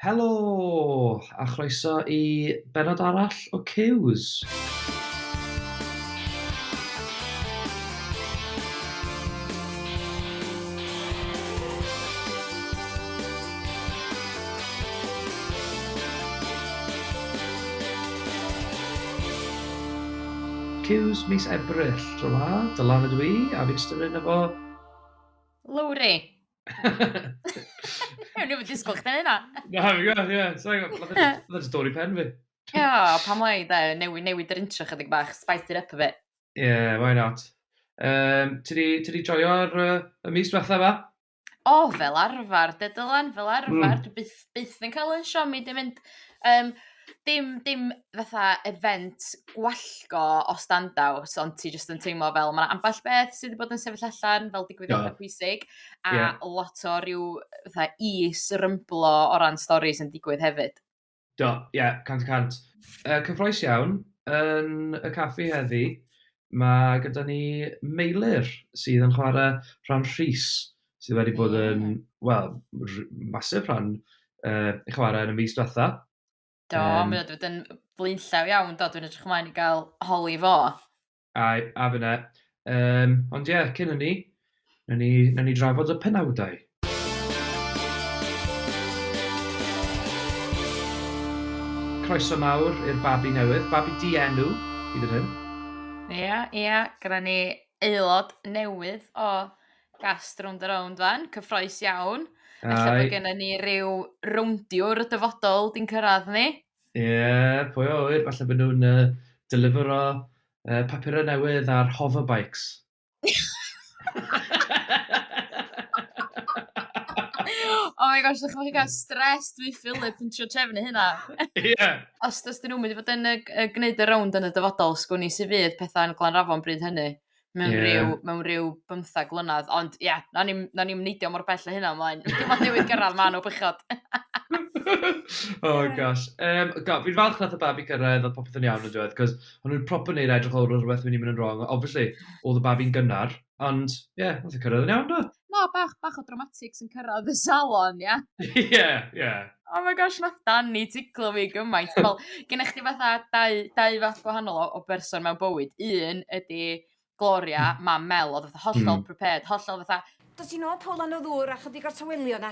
Helo! A chroeso i benod arall o Cews! Cews mis Ebrill, tro 'ma, Dylan ydw i, a fi'n ystod mynd efo... Lowri! Ewn i fy disgwyl chdi hynna. Na, fi gwybod, ie. Sorry, mae'n stori pen fi. Ie, pam lai, da, newid, newid yr intro chydig bach, spice it up a bit. Ie, yeah, why not? Um, ti wedi joio'r uh, y mis diwetha fa? O, oh, fel arfer, de Dylan, fel arfer. Mm. Dwi byth, byth yn cael yn siomi, dim mynd... Um, Dim dim fatha event gwallgo o standout ond ti jyst yn teimlo fel ma' ambell beth sy 'di bod yn sefyll allan fel digwyddiada... Do. ...pwysig a... Ia. ...lot o ryw fatha is rymblo o ran storis yn digwydd hefyd. Do ie cant y cant. Yy cyffrous iawn yn y caffi heddi ma' gyda ni Meilyr sydd yn chwara rhan Rhys sydd wedi bod yn, wel, masif rhan uh, eich chwarae yn y mis diwetha. Do, um, mae wedi bod yn blaenllaw iawn, do, dwi'n edrych ymlaen i gael holi fo. A, a fyna. Um, ond ie, yeah, cyn hynny, na ni, na ni drafod y penawdau. Croeso mawr i'r babi newydd, babi di enw, i ddyn hyn. Ie, ie, gyda ni aelod newydd o Gas rownd a rownd 'wan, cyffroes iawn. Aye. Ella bod gennym ni ryw rowndiwr y dyfodol 'di'n cyrraedd ni. Ie, yeah, pwy o ŵyr, falle bod nhw'n uh, delifero uh, papurau newydd ar hoverbikes. oh my gosh, ddech chi'n cael stres dwi Philip yn trio trefnu hynna. Ie. Os dys dyn nhw'n mynd i fod yn y, y gwneud y rownd yn y dyfodol, sgwn i sydd fydd pethau'n glanrafon bryd hynny. mewn... Ie. ...ryw mewn ryw bymthag mlynadd ond ia 'na ni'm 'na ni'm neidio mor bell a hynna mlaen. Dim ond newydd gyrradd man o bechod. Oh gosh. Yym ga- fi'n falch nath y babi cyrraedd a popeth yn iawn yndyw e 'c'os o'n nw'n proper neud e edrych fel o' rwbeth myn' i myn' yn rong a obviously odd y babi'n gynnar ond ie nath e cyrraedd yn iawn do? na bach bach o dramatics yn cyrradd y salon ia? Ie ie. Oh my gosh nath Dani ticlo fi gymaint fel gennych chdi fatha dau dau fath gwahanol o o berson mewn bywyd un ydi Gloria mam Mel odd fatha hollol prepared hollol fatha Dos i nôl Paula yn y ddŵr a chydig o'r tawelio 'na.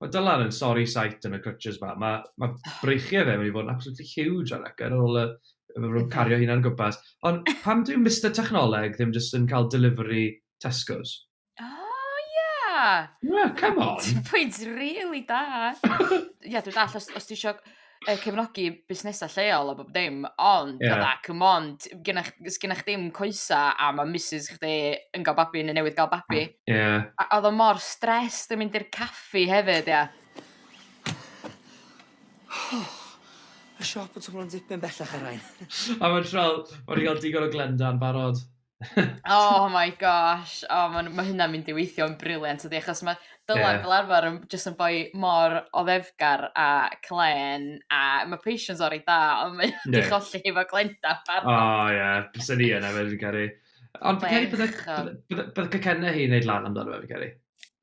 Mae Dylan yn sorry sight yn y crutches ma. Mae, mae breichiau fe wedi bod yn absolutely huge ar ac ar ôl y, y cario hynna'n gwmpas. Ond pam dwi'n Mr Technoleg ddim jyst yn cael delivery Tesco's? Oh, yeah! Yeah, come on! Pwynt really da. Ie, dwi'n dall, os, os ti eisiau yy cefnogi busnesa' lleol a bob dim ond... Ia. ...fatha come on t- genna ch- s- genna chdi'm coesa a ma' misys chdi yn ga'l babi ne' newydd ga'l babi. Ia. A a odd o mor stressed yn mynd i'r caffi hefyd ia. Ma'r siop yn twmlo'n dipyn bellach ar rail. A ma' trol- ma' 'di ga'l digon o Glenda'n barod. oh my gosh, oh, mae ma hynna'n mynd i weithio'n briliant ydy, achos mae Dylan yeah. fel arfer yn just yn boi mor o ddefgar a clen, a mae Patience o'r ei da, ond mae yeah. di cholli efo Glenda pan. O oh, ie, yeah. bys ni yna, fe dwi'n caru. Ond fi'n caru bydd y cynna hi wneud lan amdano fe, fi'n caru.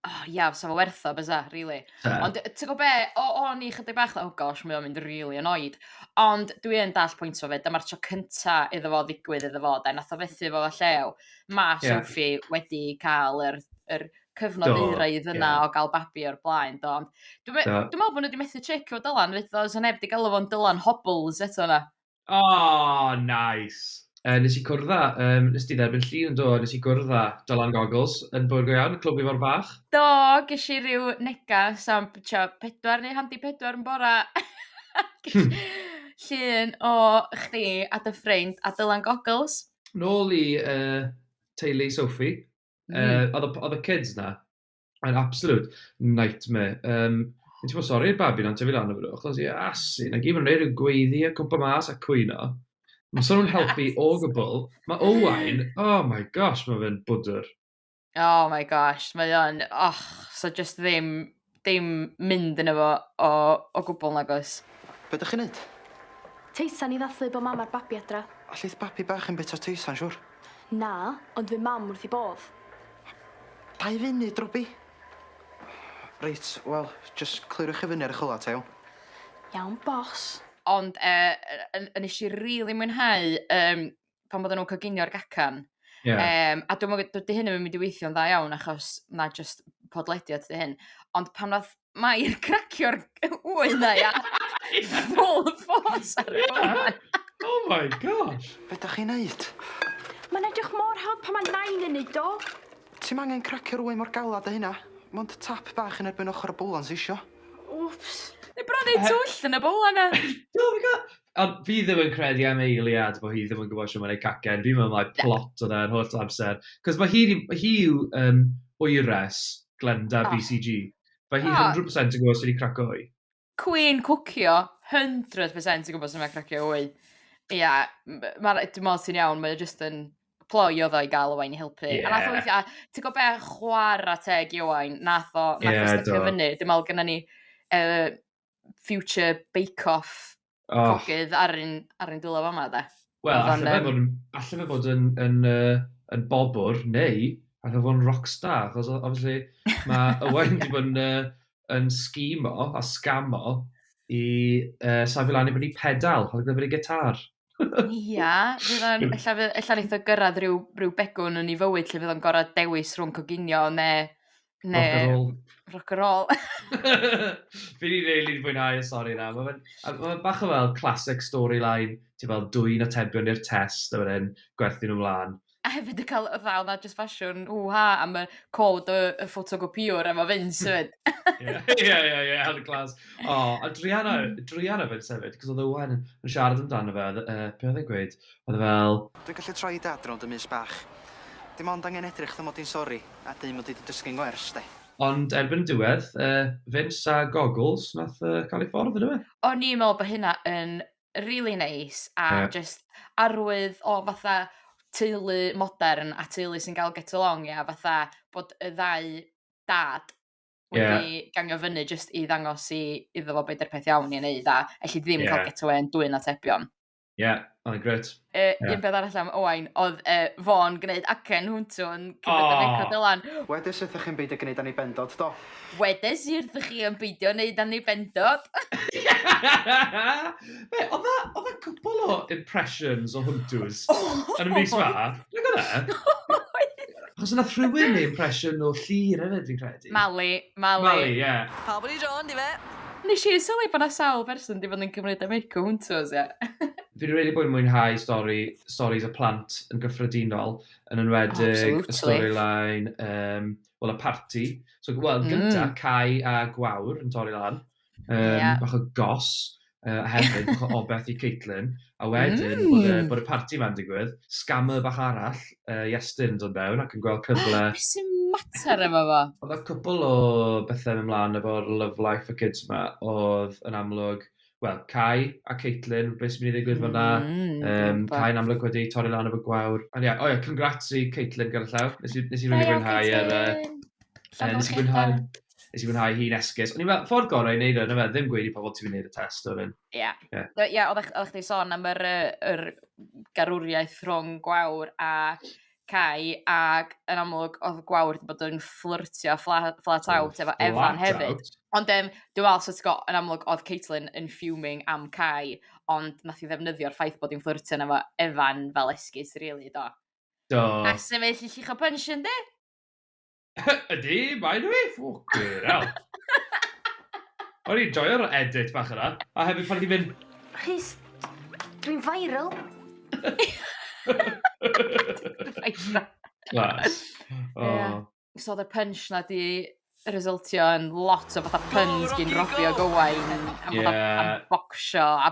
oh, yeah, so fo wertho, bysa, really. Ta. Ond ti'n gwybod be, o, o ni chydig bach, oh gosh, mae o'n mynd really annoyed. Ond dwi yn dall pwynt o fe, dyma'r tro cynta iddo fo ddigwydd iddo fo, da, nath o fethu fo llew. Mae yeah. Sophie wedi cael yr, yr cyfnod do, eiraidd yna yeah. o gael babi o'r blaen. Do. Ond dwi'n dwi meddwl bod nhw wedi methu trick o Dylan, fyd, os o neb wedi galw fo'n Dylan Hobbles eto yna. Oh, nice! Yy, nes i cwrdd â, yym, nes di dderbyn llun yn do, nes i gwrdd â Dylan Goggles yn Bywyd Go Iawn, Clwb Ifor Bach. Do, ges i ryw negas am trio pedwar neu handi pedwar yn bora. Ges llun o chdi a dy ffrind a Dylan Goggles. Nôl i yy, teulu Sophie. Yy, oedd y p- oedd y kids 'na? Mae'n absolute nightmare. Um, Yn ti'n bod sori'r babi na'n tyfu lan o fydw, achos i asu, na gyd mae'n rhaid yn gweiddi a cwmpa mas a cwyno. Mae sôn yn helpu o gwbl. Mae Owain, oh my gosh, mae fe'n bwdwr. Oh my gosh, mae o'n, och, so just ddim, ddim mynd yn efo o, o gwbl nagos. Be ydych chi'n neud? Teisan i ddathlu bod mam a'r babi adra. Allith babi bach yn bit o teisan, siwr. Na, ond fy mam wrth i bodd. Dau funud, Robbie. Reit, wel, jys clirwch i fyny ar y chwyla ta iawn? Iawn boss. Ond yy yy yn yy nesh i rili mwynhau yym pan oddan nw'n coginio'r gacan. Ie. Yym a dwi'm yn gw- dydi hyn 'im yn mynd i weithio'n dda iawn achos ma' jyst podlediad 'di hyn ond pan ddath Mair cracio'r wy na ia. Full force ar y foment. Oh my gosh. Be da chi'n neud? Mae'n edrych mor hawdd pan mae nain yn neud o. Ti'm angen cracio'r wy mor galad â hynna. Mond tap bach yn erbyn ochr y bowlan sy isio. Wps. Neu bron neud twll yn y bowlan na. Oh my god. Ond fi ddim yn credu am Eiliad bod hi ddim yn gwybod sut mae'n ei cacen. Fi'n meddwl mai plot oedd e yr holl amser. Cos mae hi 'di... hi yw yym wyres Glenda BCG. Mae hi 100% yn gwybod sut i cracio wy. Cwîn cwcio, 100% yn gwybod sut mae cracio wy. Ia, m- ma' rai- dwi me'wl ti'n iawn, mae o jyst yn ploi oedd o i gael Owain i helpu. Ie. A nath o weithio, a ti'n gwybod be, chwarae teg i Owain, nath o, nath Ie, o do. stepio fyny. Dwi'n meddwl gynna ni uh, future bake-off oh. cogydd ar un, ar un dwylo fama, de. Wel, allan fe fod yn, allan fe fod yn, yn, uh, yn bobwr, neu allan fe fod yn rockstar, achos obviously mae Owain wedi bod yn, uh, yn sgimo a scamo i uh, safio lan i fyny pedal, oedd gyfer ei gitar. Ia fydd o'n ella fy- ella neith o gyrradd ryw ryw begwn yn 'i fywyd lle fydd o'n gor'o' dewis rhwng coginio ne' ne'... Rock a roll. ...rock a roll. Fi 'di rili fwynhau y stori 'na ma' fe'n a ma' fe bach o fel classic storyline ti fel dwyn atebion i'r test a wedyn gwerthu nw mlan. a hefyd yn ca'l fatha odd 'na jyst ffasiwn hŵ ha am y cod y y ffotocopïwr efo Vince 'fyd. Ie ie ie ie hel y class. O a druana yy druan o Vince hefyd 'c'os odd Owain yn yn siarad amdano fe odd yy be' odd e'n gweud odd e fel Dwi'n gallu troi dad rownd y mus bach. Dim ond angen edrych fatha mod i'n sori a deu mod i 'di dysgu'n wers 'de. Ond erbyn y diwedd yy Vince a goggles nath yy ca'l ei ffordd on'd yfe? O'n i'n me'wl bo' hynna yn rili neis a... Ie. ...jyst arwydd o fatha teulu modern a teulu sy'n ga'l get along ia fatha bod y ddau dad... Ie. ...wedi gangio fyny jyst i ddangos i iddo fo be' 'di'r peth iawn i neud a elli di ddim... Ie. ...ca'l get awê yn dwyn atebion. Ie oedd o'n grêt. Yy yeah. un peth arall am Owain oedd uh, fo'n gwneud acen hwntw yn cymryd oh. Eco Dylan. Wedes wrthych chi'n beidio gwneud am ei bendod, do? Wedes i wrthych chi yn beidio gwneud am ei bendod. Be, oedd e cwpl o impressions o hwntws yn y mis ma? Dwi'n gwneud? Achos yna rhywun ei impression o llir hefyd, fi'n credu. Mali, Mali. Mali, ie. Yeah. Pawb yn ei dron, di fe. Nes i sylwi bod yna sawl person di fod yn cymryd am Eco Hunters, ie. Fi 'di rili bod yn mwynhau stori, storis y plant yn gyffredinol, yn enwedig y storyline, um, wel, y party. So, wel, mm. gynta, mm. Cai a Gwawr yn torri lan, um, yeah. bach o gos, uh, hefyd, bach o obeth i Caitlin, a wedyn, mm. bod, y, bod y party ma'n digwydd, scammer bach arall, uh, Iestyn yn dod mewn ac yn gweld cyfle... Ah, sy'n mater efo fo? Oedd y cwpl o bethau yn ymlaen efo'r Love Life for Kids yma, oedd yn amlwg wel, Cai a Caitlin, beth sy'n mynd i ddigwydd mm, fyna. Mm, um, Cai'n amlwg wedi torri lan efo gwawr. Ond ie, yeah, o ie, yeah, congrats i Caitlin gyda llaw. Nes i, nes i rwy'n fwynhau ar... Uh, nes i fwynhau, nes i fwynhau hi'n esgus. Ond i'n fel, ffordd gorau i wneud o'n fe, ddim gweud i pobl ti'n mynd i wneud y test o'r un. Ie. Ie, yeah, oeddech chi'n sôn am yr, yr garwriaeth rhwng gwawr a Cai ac yn amlwg oedd Gwawr wedi bod yn fflyrtio flat, flat oh, out efo Evan hefyd. Ond um, dwi'n meddwl, so ti'n yn amlwg oedd Caitlin yn fuming am Cai, ond nath i ddefnyddio'r ffaith bod hi'n fflyrtio efo Evan fel esgus, really, do. Do. A sefyll i chi'ch o pensiwn, di? Ydy, mae nhw i! Ffwcin hell. O'n i'n joio'r edit bach yna. A hefyd pan ti'n mynd... Rhys, dwi'n viral. Glas. Oh. So oedd y punch na di resultio yn lot o fatha puns gyn Robbie o Gowain. Am fatha bocsio a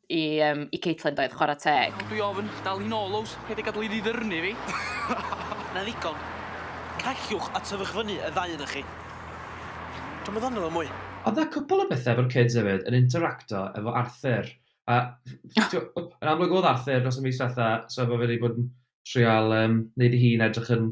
i um, i Caitlin doedd, chwarae teg. Iawn, dwi ofn, dal hi'n ôl, Ows, paid â gadael i ddi ddyrnu fi. Na ddigon. Callwch a tyfwch fyny y ddau yna chi. Dwi'n meddwl yno fo mwy. Oedd yna cwpl o bethau efo'r kids hefyd yn interacto efo Arthur. A, yn amlwg oedd Arthur dros y mis diwetha, so mae fe wedi bod yn trial um, neud i hun edrych yn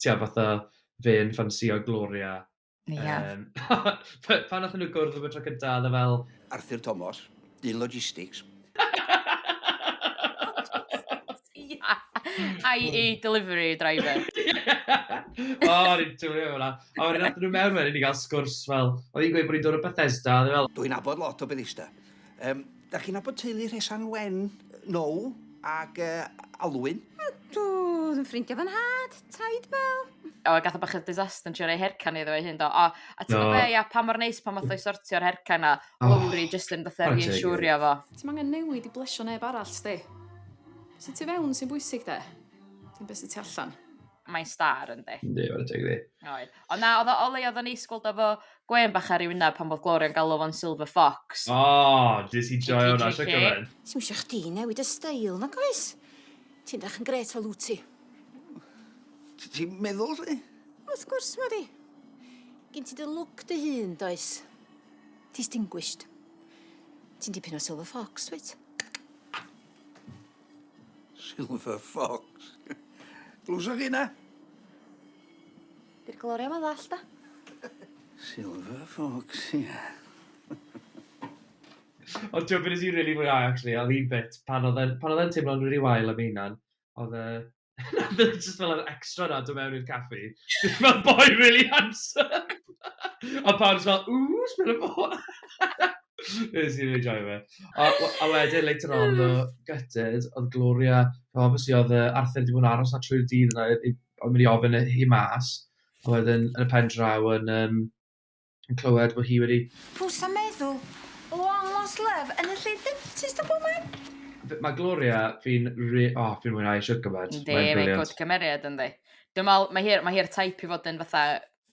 ti'n gwybod, fatha fe yn ffansïo Gloria. Ie. Yym, pa- pan nathon nhw gwrdd am y tro cynta, oedd e fel... Arthur Tomos, dyn logistics. IE delivery driver. O, o'n i'n joio efo hwnna. A wedyn nathon nhw mewn wedyn i gael sgwrs fel, oedd hi'n gweud bod hi'n dod o Bethesda, oedd e fel... Dwi'n nabod lot o Bethesda. Yym, da chi'n nabod teulu Rhesan Wen? Now ag uh, Alwyn? Ydw, oedd yn ffrindiau fan had, taid bel. O, gath o bach o disaster yn trio rei hercan iddo ei hun do. O, a ti'n gwybod be, ia, pa mor neis pan math o'i sortio'r hercan na, lowri jyst yn fatha reassurio fo. Ti'n angen newid i blesio neb arall, sti. Sut ti fewn sy'n bwysig de, dim beth sy'n ti allan. mae'n star yndi. Yndi, mae'n teg di. Oed. Ond na, oedd o leia oedd o'n eisgwld efo gwen bach ar ei wyneb pan bod Gloria'n galw fo'n Silver Fox. O, oh, dys i joio hwnna, siarad gyfan. Ti'n mysio chdi newid y stael, na goes? Ti'n dach yn gret o lwti. Ti'n meddwl, si? Wrth gwrs, mae di. Gyn ti dy lwc dy hun, does? Distinguished. Ti'n dipyn o Silver Fox, wyt? Silver Fox. Glwsoch chi na? Di'r gloria ma ddall da. Silver Fox, ia. Ond ti'n gwybod beth nes i rili fwynhau actually, oedd un bit pan oedd e'n teimlo'n rili wael am ei hunan, oedd e... Na, bydd e jyst fel yr extra 'na yn dod mewn i'r caffi. Jyst fel boi really handsome! A pawb jyst fel "Ww, sbia ar y boi!" Wnes i rili joio fe. A we- a wedyn later on ddo, gutted, oedd Gloria... Fel obviously oedd yy Arthur 'di bod yn aros 'na trwy'r dydd yna i i... Oedd mynd i ofyn i hi mas, a wedyn yn y pen draw yn yym... yn clywed bod hi wedi... Pw sa'n meddwl? Long lost love yn y lle dentist a bob man? Mae Gloria, fi'n re... O, oh, fi'n mwynhau siwr gymaint. Yndi, mae'n brilliant. Mae'n cymeriad, yndi. Dwi'n meddwl, mae hi'r mae hi type i fod yn fatha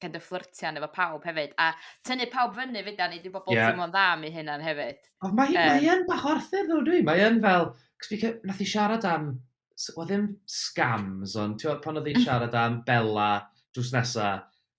kind of fflirtian efo pawb hefyd, a tynnu pawb fyny fyd a nid i bobl yeah. teimlo'n dda am ei hunan hefyd. Ond mae hi'n um, mae bach o Arthur ddo dwi, mae hi'n fel, cos fi nath i siarad am, o ddim scams, ond ti'n pan oedd hi'n siarad am Bella drws nesa,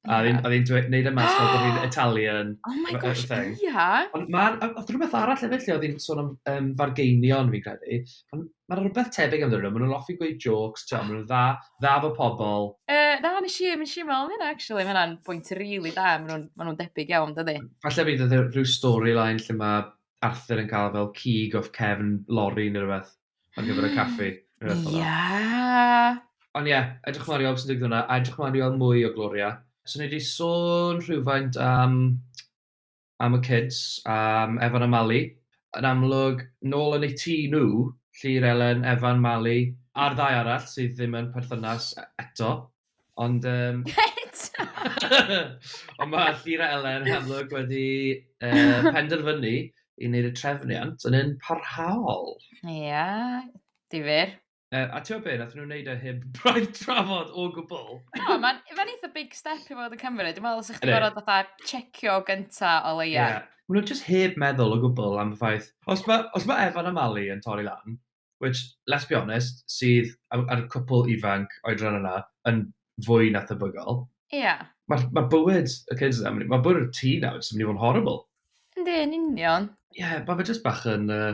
A oedd hi'n dweud, neud e mas fel bod hi'n Italian. Oh my gosh, ia! Ond mae'n, oedd rhywbeth arall hefyd lle oedd hi'n sôn am um, fargeinion, fi'n credu. Ond mae'n rhywbeth tebyg amdano, maen nhw'n offi gweud jokes, ti'n maen nhw'n dda, dda fo pobl. Uh, na, nes i, nes i meddwl hynna, actually, mae hynna'n bwynt rili really da, maen nhw'n ma nhw debyg iawn, dydy. Falle bydd e rhyw storyline lle mae Arthur yn cael fel cig of Kevin Lorry neu rhywbeth. ar gyfer y caffi. Ia! Ond ie, edrych mlaen i weld beth sy'n digwydd yna, a edrych mlaen i weld mwy o Gloria. So ni wedi sôn rhywfaint am, am y kids, am Evan a Mali. Yn amlwg, nôl yn eu tŷ nhw, Llyr, Elen, Evan, Mali, a'r ddau arall sydd ddim yn perthynas eto. Ond yym... Pet! Ond mae Llyra Elen yn amlwg wedi yy penderfynu i wneud y trefniant yn un parhaol. Ia, difyr. Yy, a ti'n gwybod be, nath nhw wneud e heb braidd trafod o gwbl. O, mae'n ma eitha big step i fod yn Cymru. Dwi'n meddwl os ych chi'n gorfod fatha checio gynta o leia. Ie. Maen nhw jyst heb meddwl o gwbl am y ffaith, os mae os ma Evan a Mali yn torri lan, which, let's be honest, sydd ar y cwpl ifanc oedran yna yn fwy na thebygol. Ie. Yeah. Mae ma bywyd y kids yna, mae bywyd y tŷ nawr jyst yn mynd i fod yn horrible. Yndi, yn union. Ie, yeah, mae fe jyst bach yn uh,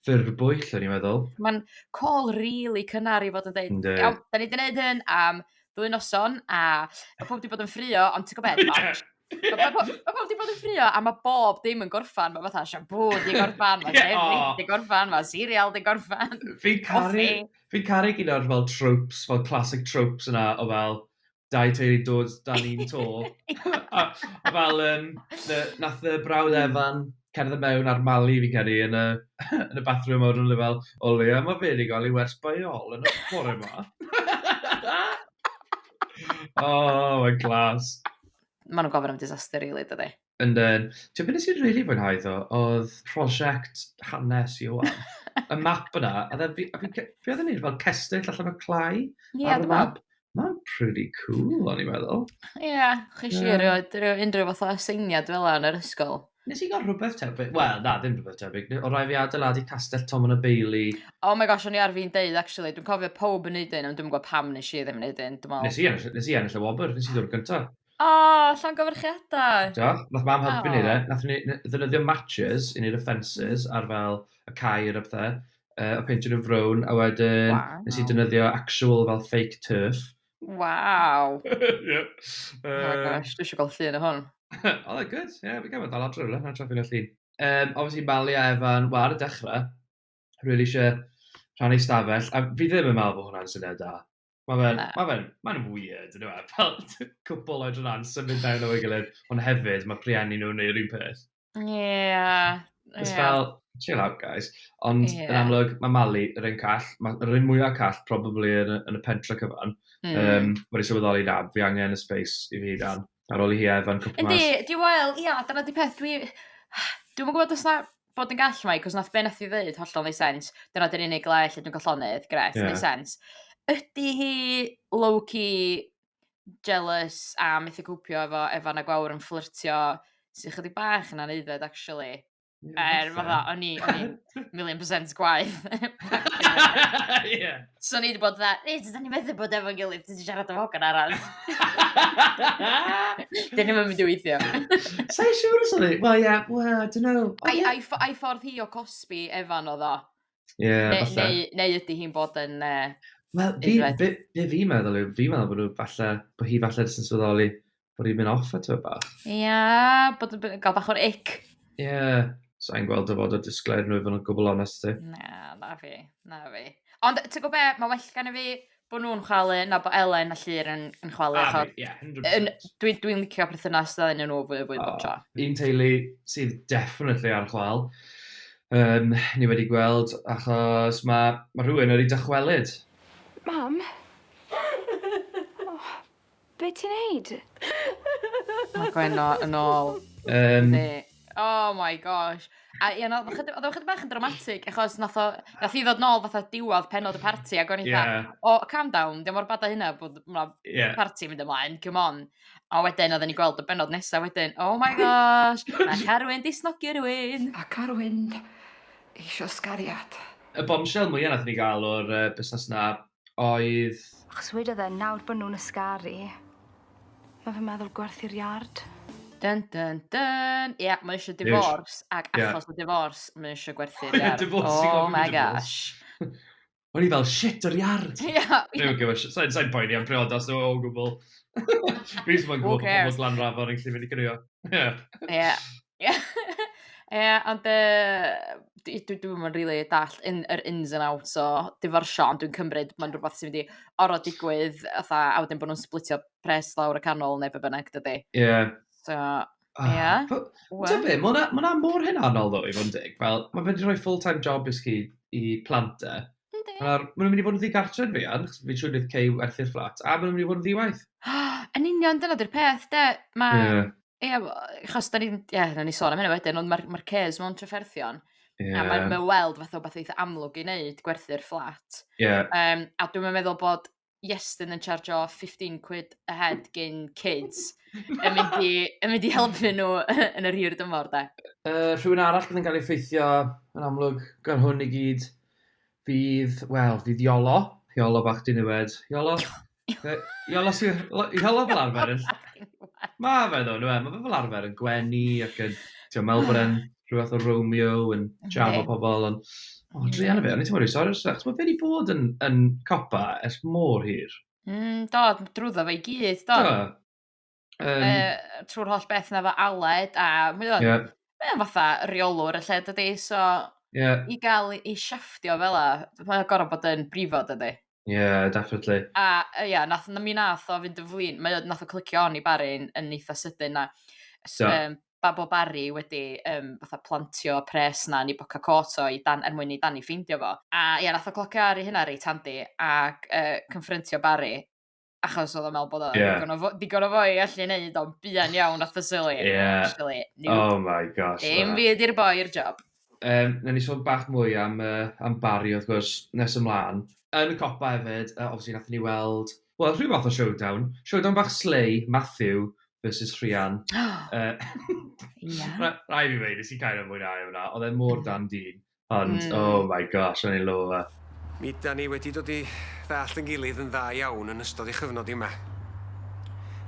ffurf bwyll, o'n i'n meddwl. Mae'n call really cynnar i fod yn dweud, iawn, da ni wedi gwneud hyn am ddwy noson, a mae pob wedi bod yn ffrio, ond ti'n gwybod beth, Ie. Ma' po- ma' pobol 'di bod yn ffrio a ma' bob dim yn gorffan ma' fatha siampŵ 'di gorffan ma' Ie, dim o! 'di gorffan ma' cereal 'di gorffan. Fi'n caru Coffi. fi'n caru gyd o'r fel tropes fel classic tropes yna o fel dau teulu'n dod dan un to a a fel yym na- nath y brawd Evan cerdded mewn ar Mali fi'n credu yn y yn y bathroom a wedon nw fel o leia ma' fe 'di ga'l ei wers by ol yn y bore 'ma. O mae'n glas. maen nhw'n gofyn am disaster rili, really, dydy. Ynden. Ti'n beth nes i'n rili fwynhau ddo, oedd prosiect hanes Iwan. y map yna, a dda, fi, fi, fi oedd yn neud fel cestyll allan o clai yeah, ar y map. Mae'n pretty cool, o'n i'n meddwl. Ie, yeah, chi si yeah. rhoi, rhoi unrhyw fath o aseiniad fel yna yn yr ysgol. Nes i gael rhywbeth tebyg. Wel, na, ddim rhywbeth tebyg. O rai fi adeiladu castell Tom yn y Beili. Oh my gosh, o'n i ar fi'n deud, actually. Dwi'n cofio pob yn neud un, ond dwi'n gwybod pam nes i ddim yn neud un, dwi'n meddwl. Nes i ennill, nes i ennill y wobr, nes i ddod gynta. O, oh, llawn gofyrchiadau. Do, nath mam helpu ni, ne? Nath ni ddynyddio matches i neud y fences ar fel y cair a pethau, uh, a peintio nhw'n frown, a wedyn wow. nes i dynyddio actual fel fake turf, Waw! Ie. Oh my Yym. gosh, dwi isio gweld llun o hwn. Oedd e'n gwd, ie, fi'n credu bod dal adre rywle, na tra ffilmio llun. Yym, obviously Mali a Evan, wel ar y dechre, rili isie rhannu stafell, a fi ddim yn meddwl bod hwnna'n syniad da. Ma' fe'n... Na. ...ma' fe'n ma'n weird yndyw e? Fel cwpwl oedran symud mewn efo'i gilydd, ond hefyd ma' rhieni nhw'n neud yr un peth. Yeah. It's yeah. fel, chill out guys. Ond yeah. yn amlwg, mae Mali yr un call, mae'r un mwyaf call probably yn, yn y pentra cyfan. Mm. Um, Wedi sylweddoli na, fi angen y space i fi dan. Ar ôl i hi efan cwpl mas. Yndi, di wel, ia, dyna di peth. Dwi... Dwi'n gwybod os na bod yn gall mai, cos nath be nath i ddeud hollol neud sens. Dyna dyn unig le lle dwi'n gollonydd, gret, yeah. neud sens. Ydy hi low-key jealous a methu copio efo Efan a Gwawr yn fflyrtio sy'n ychydig bach yn aneifed actually. Ie, Er, falle. fatha, o'n i, o'n i'n million percent gwaith. Ie. so o'n i wedi bod dda, ei, dyn ni methu bod efo'n gilydd, ti wedi siarad am hogan arall. Dyn ni'n mynd i weithio. Sa'n siŵr os oedd e... Wel, ie, wel, I don't know. Ond Ai, ie, ai, ffo- ai ffordd hi o cosbi Efan oedd o? Yeah, ne, falle. Neu, neu ydy hi'n bod yn... Uh, Wel, fi, fi, fi, fi meddwl yw, fi meddwl bod nhw falle, bod hi falle jyst yn swyddoli bod hi'n mynd off at o bach. Ie, yeah, bod yn gael bach o'r ic. Ie, yeah. so i'n gweld o fod o disglair nhw i fod yn gwbl onest ti. Na, na fi, na fi. Ond ti'n gwybod be, mae well gan i fi bo' nhw'n chwalu, na bo' Elen a Llyr yn, yn chwalu. A, achos, ie, yeah, 100%. Dwi'n dwi licio perthynas dda yn nhw fwy o fwy oh, bob tro. Un teulu sydd definitely ar chwal, um, ni wedi gweld, achos mae ma rhywun wedi dychwelyd. Mam? oh, Be ti'n neud? Mae Gwenno yn ôl. Um, oh my gosh. A ie, oedd o'n chydig bach yn dramatig, achos nath o, nath i ddod nôl fatha diwedd penod y party, ac o'n i'n yeah. dda, o, oh, calm down, dim o'r badau hynna bod ma yeah. party mynd ymlaen, come on. A wedyn, oedden ni'n gweld y benod nesaf wedyn, oh my gosh, mae Carwyn disnogi rhywun. A Carwyn eisiau sgariad. Y bombshell mwyaf nath ni gael o'r uh, busnes na oedd... Achos wedodd e, nawr bod nhw'n ysgaru, mae fy meddwl gwerth i'r iard. Dun dun dun! Ie, mae eisiau divorce, ac achos y divorce, mae eisiau gwerthu'r iard. Oh my gosh. O'n i fel, shit, yr iard! Ie. Dwi'n gwybod, sa'n poeni am priodas nhw o gwbl. Fi jyst moyn gwybod pobl Glanrafon yn gallu mynd i gwnïo. Ie. Ia ia ond yy dwi dwi dwi'm yn rili dall' in yr ins and outs o divorcio ond dwi'n cymryd ma'n rwbath sy mynd i orod digwydd fatha a wedyn bo' nw'n splitio pres lawr y canol ne' be' bynnag dydi? Ie. So ia. Wel... T'o' be' ma' wnna ma' wnna mor hunanol ddo i fod yn deg fel ma' fe 'di roi full time job i chi i plant e. Yndi. A nawr ma' nw myn' i fod yn ddigartre' yn fuan 'chos fi'n siŵr neith Kay werthu'r fflat a ma' nw myn' i fod yn ddi-waith. Yn union dyna 'di'r peth 'de ma'... Ie. Ia w- yy achos 'dan ni'n ia newn ni sôn am hynny wedyn ond ma'r ma'r caeaus mewn trafferthion... Ie. ...a mae mae o weld fatha wbath eitha amlwg i neud gwerthu'r fflat. Ie. Yym a dwi'm yn meddwl bod Iestyn yn charjio fifteen quid a head gin kids yn mynd i yn mynd i helpu nw yn yr hir dymor 'de? Yy rhywun arall fydd yn ga'l ei effeithio yn amlwg gan hwn i gyd Fydd, wel, fydd Iolo, Iolo bach diniwed, Iolo, Iolo sy'n, Iolo fel arfer yn, mae fe ddo, mae fe fel arfer yn gwenu ac yn, ti'n meddwl bod e'n rhywbeth o Romeo yn jam o pobl, ond, o, dwi anna fe, o'n i'n teimlo rhi sori, achos mae fe wedi bod yn, yn copa ers mor hir. Mm, do, drwyddo fe i gyd, do. Do. Um, uh, trwy'r holl beth na fo Aled, a mae o'n yeah. mae fatha reolwr y lle dydy, so yeah. i gael ei siafftio fel a, mae'n gorau bod yn brifod dydy. Ie, yeah, definitely. A uh, yeah, nath, na mi nath o fynd yn flin, mae nath o clicio on i Barry yn, yn eitha sydyn na. So. Um, bab o Barry wedi um, fatha plantio pres na ni boca cot o i dan, er mwyn i dan i ffeindio fo. A ie, yeah, nath o clocio ar ei hynna reit handi ac uh, confrontio Barry achos oedd o'n meddwl bod o yeah. digon, o, digon o fo i allu neud o'n buan iawn at y sili. Yeah. Actually, new. Oh my gosh. Dim byd i'r boi i'r job. Um, na ni sôn bach mwy am, uh, am Barry, wrth gwrs, nes ymlaen. Yn y copa hefyd, uh, obviously, nath ni weld... Wel, rhyw fath o showdown. Showdown bach slay, Matthew versus Rhian. uh, yeah. Rai fi wneud, nes i cael ei mwynhau hwnna. Oedd e mor dan dyn. Ond mm. oh my gosh, o'n i'n lo fe. Mi da ni wedi dod i ddallt yn gilydd yn dda iawn yn ystod ei chyfnod yma.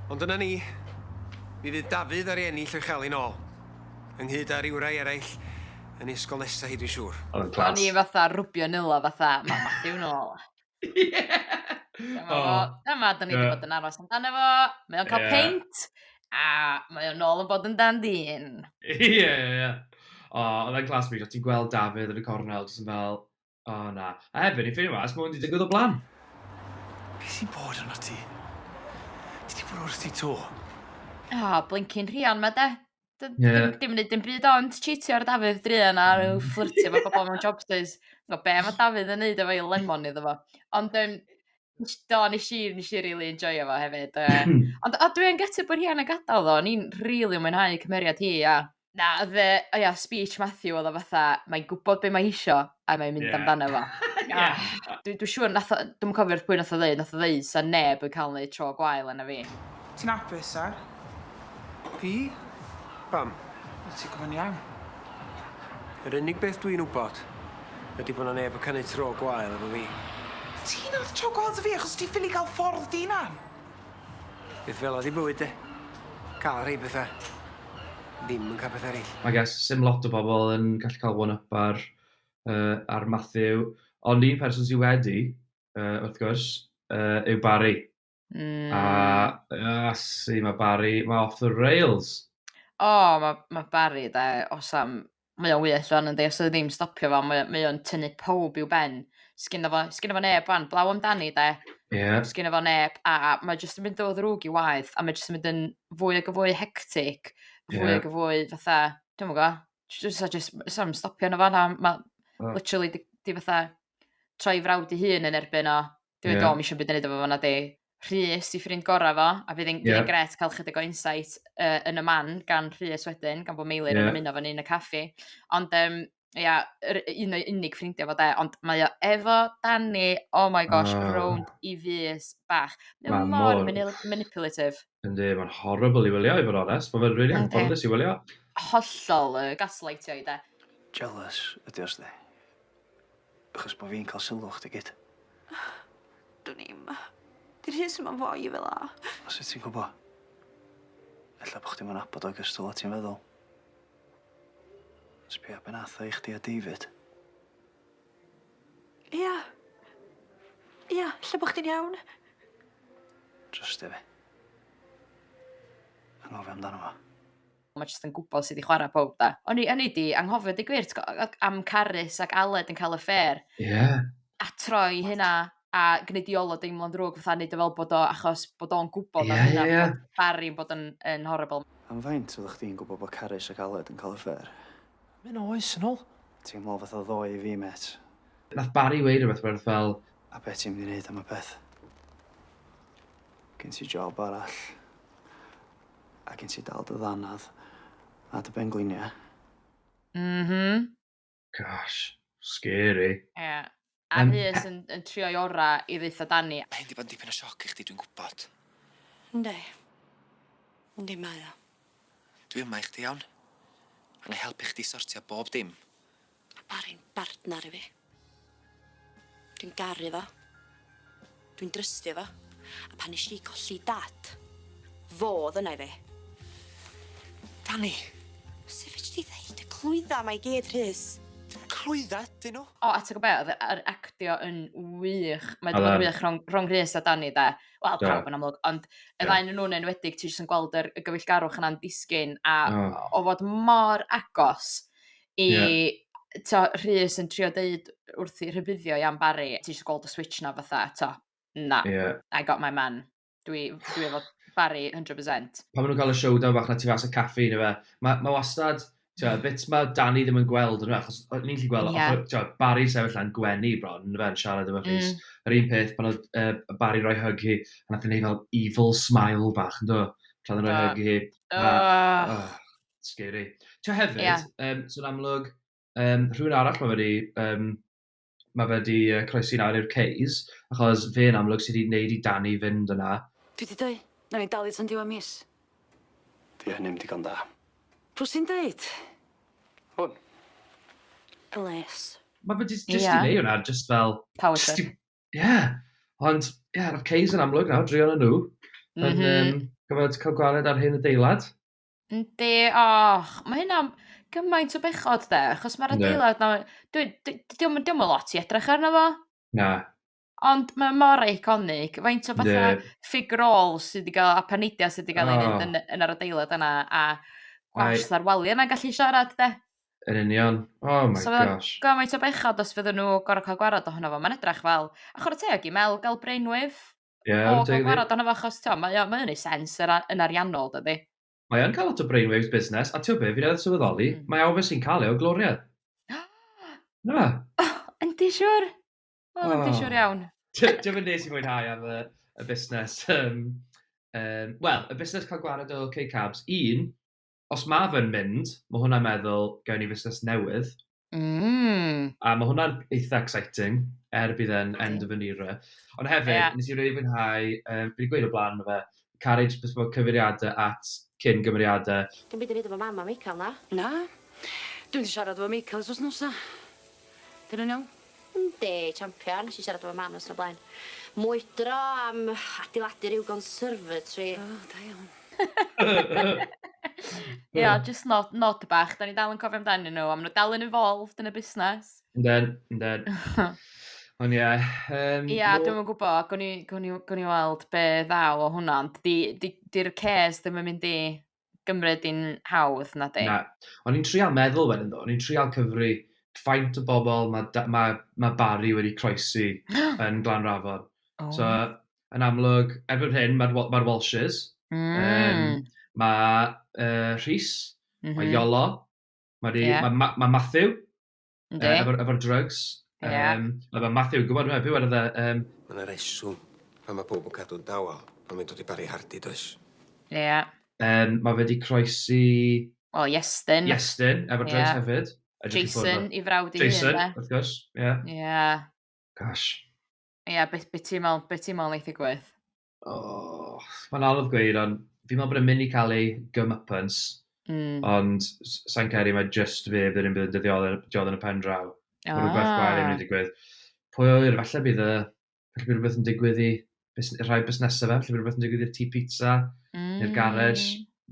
Ond dyna ni, mi fydd Dafydd ar ei ennill o'i chael ei nôl, ynghyd â rywrai eraill yn ei ysgol nesaf hi dwi'n siŵr. O'n i'n fatha rwbio nila fatha, mae Matthew nôl. Dyma fo, dyma, da ni wedi bod yn aros amdano fo, mae o'n cael peint, a mae o'n nôl yn bod yn dan dyn. Ie, ie, ie. O, oedd e'n class pryd o ti'n gweld Dafydd yn y cornel, jyst yn fel, o na. A hefyd, ni'n ffeindio mas, mae hwn wedi digwydd o blan. Be sy'n bod yno ti? Ti wedi bod wrth ti to? O, blincin rhian ma de. Dim... Ie. ...dim dim yn neud dim byd ond cheatio ar Dafydd druan a ryw fflyrtio efo pobol mewn jobsus. O be' ma' Dafydd yn neud efo 'i lemon iddo fo. Ond yym nesh do nesh i nesh i rili enjoio fo hefyd yy hmm. ond a dwi yn gutted bo hi yn y gadal ddo o'n i'n rili mwynhau cymeriad hi a na odd yy o ia speech Matthew odd o fatha mae'n gwbod be' mae hi isio a mae'n mynd... Ie. ...amdano fo. Ie. A dwi dwi siŵr nath o dwi'm yn cofio wrth pwy nath o ddeud nath o ddeud 'sa neb yn ca'l neud tro gwael arno fi. Ti'n apus Sel? Fi? Pam? Wyt ti gwbo'n iawn? Yr unig beth dwi'n wbod ydi bo' 'na neb yn ca' neud tro gwael efo fi. Ti nath tro gwael 'da fi achos ti ffili ca'l ffordd dy unan. Beth fela 'di bywyd de? Ca'l rhei petha. Ddim yn ca'l petha ereill. I guess sim lot o bobl yn gallu cael one up ar yy ar Matthew ond un person sy wedi yy wrth gwrs yy yw Barry. Mm. A a si ma' Barry ma' off the rails. O ma' ma' Barry 'de os am mae o wych rwan yndi os odd e ddim stopio fo mae o mae o'n tynnu pawb i'w ben. Sgynno fo sgynno fo neb rwan blaw amdani 'de. Ie. Sgynno fo neb a a mae jyst yn mynd o ddrwg i waeth a mae jyst yn mynd yn fwy ag yn fwy hectic fwy... Ie. ...ag yn fwy fatha dwi'm yn g'o' j- jyst a jyst m- sna'm stopio 'na fo na ma'... Na. ...literally 'di 'di fatha troi 'i frawd 'i hun yn erbyn o. Dwi'n yeah. do, mi eisiau byd yn neud efo fo na di. Rhys i ffrind gorau fo, a fydd yn yeah. gret cael chydig o insight uh, yn y man gan Rhys wedyn, gan bod Meilir yeah. yn ymuno fan un y caffi. Ond um, ia, yr un o'i unig ffrindiau fo de, ond mae o efo Danny, oh my gosh, oh. rownd i fus bach. Mae o mor manipulative. Yndi, mae'n horrible i wylio i fod onest, mae'n fe'n really anffodus i wylio. Hollol, uh, gaslightio i de. Jealous ydi os di. Achos bo' fi'n ca'l sylw chdi gyd. Dwn i'm. 'Di Rhys 'im yn foi fel 'a. O sut ti'n gwbo? Ella bo' chdi'm yn nabod o ogystal â ti'n feddwl. Sbia be' nath o i chdi a David. Ia. Ia, ella bo' chdi'n iawn. Trystia fi. Anghofio amdano fo. ma' jyst yn gwbod sud i chwara powb 'de? O'n i o'n i 'di anghofio deu gwir t'go' yy yy am Carys ac Aled yn ca'l affêr. Ie. A troi hynna a gneu' di ôl o deimlo'n ddrwg fatha neud o fel bod o achos bod o'n gwbod am hynna... Ie ie ie. ...bod Bari yn bod yn yn horrible. Am faint oddach chdi'n gwbod bo' Carys ac Aled yn ca'l affêr? Myn' o oes yn ol. Teimlo fatha ddoe i fi mêt. Nath Bari weud rwbeth werth fel... A be' ti mynd i neud am y peth? Gen ti job arall? A gen ti dal dy ddannedd a dy benglinia? M-hm. Gosh. Scary. Ie. A Rhys yn yn trio'i ora i ddaetho Dani. Mae hyn 'di bod yn dipyn o sioc i chdi dwi'n gwbod. Yndi. Yndi mae o. Dwi yma i chdi iawn. A 'nai helpu chdi sortio bob dim. Ma' Bari'n bartnar i fi. Dwi'n garu fo. Dwi'n drystio fo. A pan nesh i golli dad, fo o'dd yna i fi. Dani! Su' fedri di ddeud y clwydda 'ma i gyd, Rhys? Dim clwydda ydyn nhw. O a t'go' be' o'dd yy yr actio yn wych mae 'di bod yn wych rhwng rhwng Rhys a Dani 'de wel pawb yn amlwg ond y ddau o'nyn nw'n enwedig ti jyst yn gweld yr y gyfeillgarwch yna'n disgyn a o fod mor agos i... Ie. ...t'o' Rhys yn trio deud wrthi rhybuddio i am Bari ti isio gweld y switsh 'na fatha t'o' na... Ie. ...I got my man dwi dwi efo Bari hundred percent. Pan ma' nw'n ca'l y showdown fach 'na tu fas y caffi ne' fe- ma' ma' wastad t'o' y bits ma' Dani ddim yn gweld on'd yw e achos o- ni'n gallu gweld... Ie. ...o- o- t'o' Bari'n sefyll lan gwenu bron on'd yfe yn siarad efo Rhys. Hmm. Yr un peth pan odd yy yy Bari roi hug hi a nath e neud fel evil smile bach yndo? Tra o'dd e'n roi hug i hi. Do. A o! Scary. Ti'n hefyd, yeah. um, sy'n amlwg, um, rhywun arall mae wedi, um, mae wedi uh, croesi nawr i'r Ceys, achos fe yn amlwg sydd wedi gwneud i Dani fynd yna. Dwi wedi dweud, na ni'n dalu tan diwa mis. Dwi hynny'n digon da. Pwy sy'n dweud? Hwn. Bless. Mae fe jyst yeah. i neu hwnna, jyst fel... Power trip. Ie. Yeah. Ond, ie, yeah, mae'r Ceys yn amlwg nawr, drion yn nhw. Mm -hmm. Yn, um, gyfod cael gwared ar hyn y deilad. Yndi och ma' hynna'n gymaint o bechod 'de achos ma'r adeilad 'na dwi d- d- 'di o'm yn 'di o'm yn lot i edrych arno fo. Na. Ond mae mor eiconig faint o fatha... Yndi. ...fig rôl sy 'di ga'l a paneidia sy 'di ga'l... O. ...ei neud yn yn yr adeilad yna a gwallt... Mae... ...a'r walia 'na'n gallu siarad 'de? Yn union. Oh my gosh. So ma' gymaint o bechod os fydden nw gor'o' ca'l gwarad ohono fo ma'n edrach fel a chwara teg i Mel ga'l brainwave Ie, yeah, oh, dwi'n gwrando arno fo achos ti'n mae o'n ei sens yr, yn ariannol, dydy. Mae o'n cael lot o brainwaves busnes, a ti'n be, fi'n edrych sylweddoli, mm. mae awr sy'n cael ei o gloria. Na fe? Oh, yndi siwr. O, oh, yndi siwr iawn. Dwi'n mynd nes i mwynhau am y, y busnes. Um, um, Wel, y busnes cael gwared o K-Cabs, un, os mae fe'n mynd, mae hwnna'n meddwl, gawn ni fusnes newydd. Mm. A mae hwnna'n eitha exciting, er bydd e'n end of an era. Ond hefyd, yeah. nes i rei fwynhau, um, fi wedi gweud o blaen fe, Carriage Bespoke cyfeiriadau at cyn gymeriadau. Dim byd i wneud efo mam a Michael, na? Na. Dwi'n di siarad efo Michael os os nosa. Dyn nhw'n iawn? Yndi, champion. Nesh i siarad efo mam noson o blaen. Mwydro am adeiladu rhyw conservatory. O, da iawn. Ia, jyst nod, nod bach. Da ni dal yn cofio amdanyn nhw, a maen nhw dal yn involved yn y busnes. Yndyn, yndyn. Ond ie. Um, ia, no... dwi'n gwybod, gwn i, gwn i, gwn i weld be ddaw o hwnna, ond di'r di, di cares ddim yn mynd i gymryd i'n hawdd, na di? Na. O'n i'n trial meddwl wedyn ddo, o'n i'n trial cyfri faint o bobl mae ma, ma Barry wedi croesi yn Glan Rafon. Oh. So, yn amlwg, erbyn hyn, mae'r ma Walshes, mm. um, mae uh, Rhys, mm -hmm. mae Iolo, mae yeah. ma, ma, ma Matthew, Yndi. Yy efo'r efo'r drugs. Ie. Yym ma' fel Matthew yn gwbod yndyw e pwy welodd e yym... Ma' 'na reswm pan ma' powb yn cadw'n dawel pan mae'n dod i Barry Hardy does? Ie. Yym ma' fe 'di croesi... O Iestyn. Iestyn efo'r drugs hefyd. Jason 'i frawd 'i hun 'de? Jason wrth gwrs ie. Ie. Gosh. Ie be' be' ti'n me'wl be' ti'n me'wl neith ddigwydd? Oh, mae'n anodd gweud, ond fi'n meddwl bod e'n mynd i cael ei gymypens. Mm. Ond sa'n cael mae just fe bydd yn bydd yn dyddiol yn y pen draw. Ah. Mae rhywbeth gwael yn mynd i digwydd. Pwy o wir, falle bydd y... Falle bydd rhywbeth yn digwydd i rhai busnesau fe, falle bydd rhywbeth yn digwydd i'r tŷ pizza, mm. neu'r garage.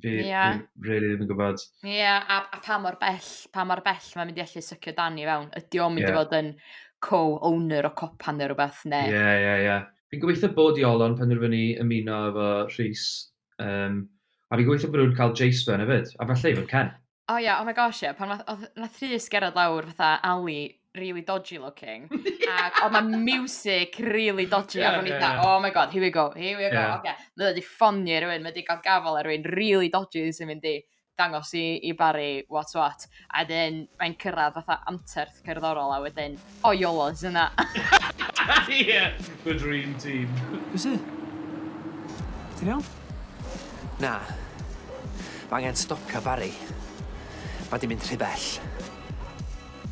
Fi... Ia. ...fi rili ddim yn gwbod. Ia a a pa mor bell pa mor bell ma' mynd i allu sycio Dani i fewn ydi o'n mynd... Ia. ...i fod yn co-owner o copan ne' rwbath ne'... Ie ie ie. Fi'n gobeithio bod Iolo penderfynu ymuno efo Rhys yym a fi'n gobeithio bo' nw'n ca'l Jace mewn efyd a falle even Ken. O ia oh my gosh ia pan nath odd nath Rhys gerddad lawr fatha Ali rili dodgy looking ac odd 'na miwsig rili dodgy ac o'n i fatha oh my God here we go here we go oce ma' o 'di ffonio i rywun ma' 'di ga'l gafal ar rywun rili dodgy sy'n mynd i dangos i i Bari what's what a 'dyn mae'n cyrradd fatha anterth cerddorol a wedyn O yolo, is yna. Ie! The dream team. Be' sy? Ti'n iawn? Na. Ma' angen stopio Barry. Ma' 'di mynd rhy bell.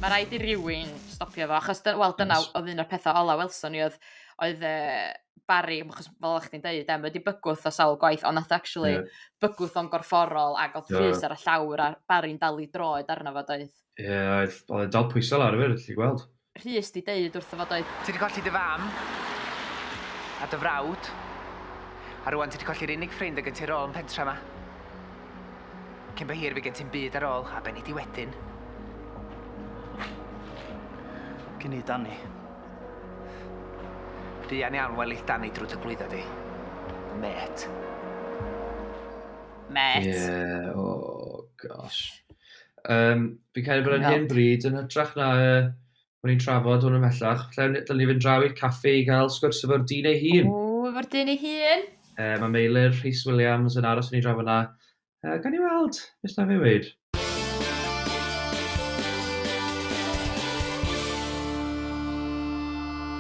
Ma' raid i rywun stopio fo achos dy- wel dyna w- odd un o'r petha ola welson ni odd oedd yy Barry m- achos fel o' chdi'n deud e ma' 'di bygwth o sawl gwaith on' nath o actually... Ie. ...bygwth o'n gorfforol ag odd... Do. ...llys ar y llawr a Barry'n dal 'i droed arno fo doedd? Ie, oedd, oedd e'n dal pwysau lawr efyd, allu gweld. Rhys di deud wrtho fo doedd? Ti di colli dy fam, a dy frawd, a rwan ti di colli'r unig ffrind y gen ti ar ôl yn pentra ma. Cyn bo hir fe gen ti'm byd ar ôl, a be nei di wedyn? Gin i Dani. Buan iawn welith Dani drwy dy glwydda di. Met. Met. Ie, o gosh. Yym, fi'n credu bod e'n hyn bryd, yn hytrach na uh, bod ni'n trafod hwn ymhellach, lle dylwn ni fynd draw i'r caffi i gael sgwrs efo'r dyn ei hun. O, efo'r dyn ei hun? Uh, mae Meilir Rhys Williams yn aros yn ei drafod yna. Uh, gan i weld, beth na fe wneud.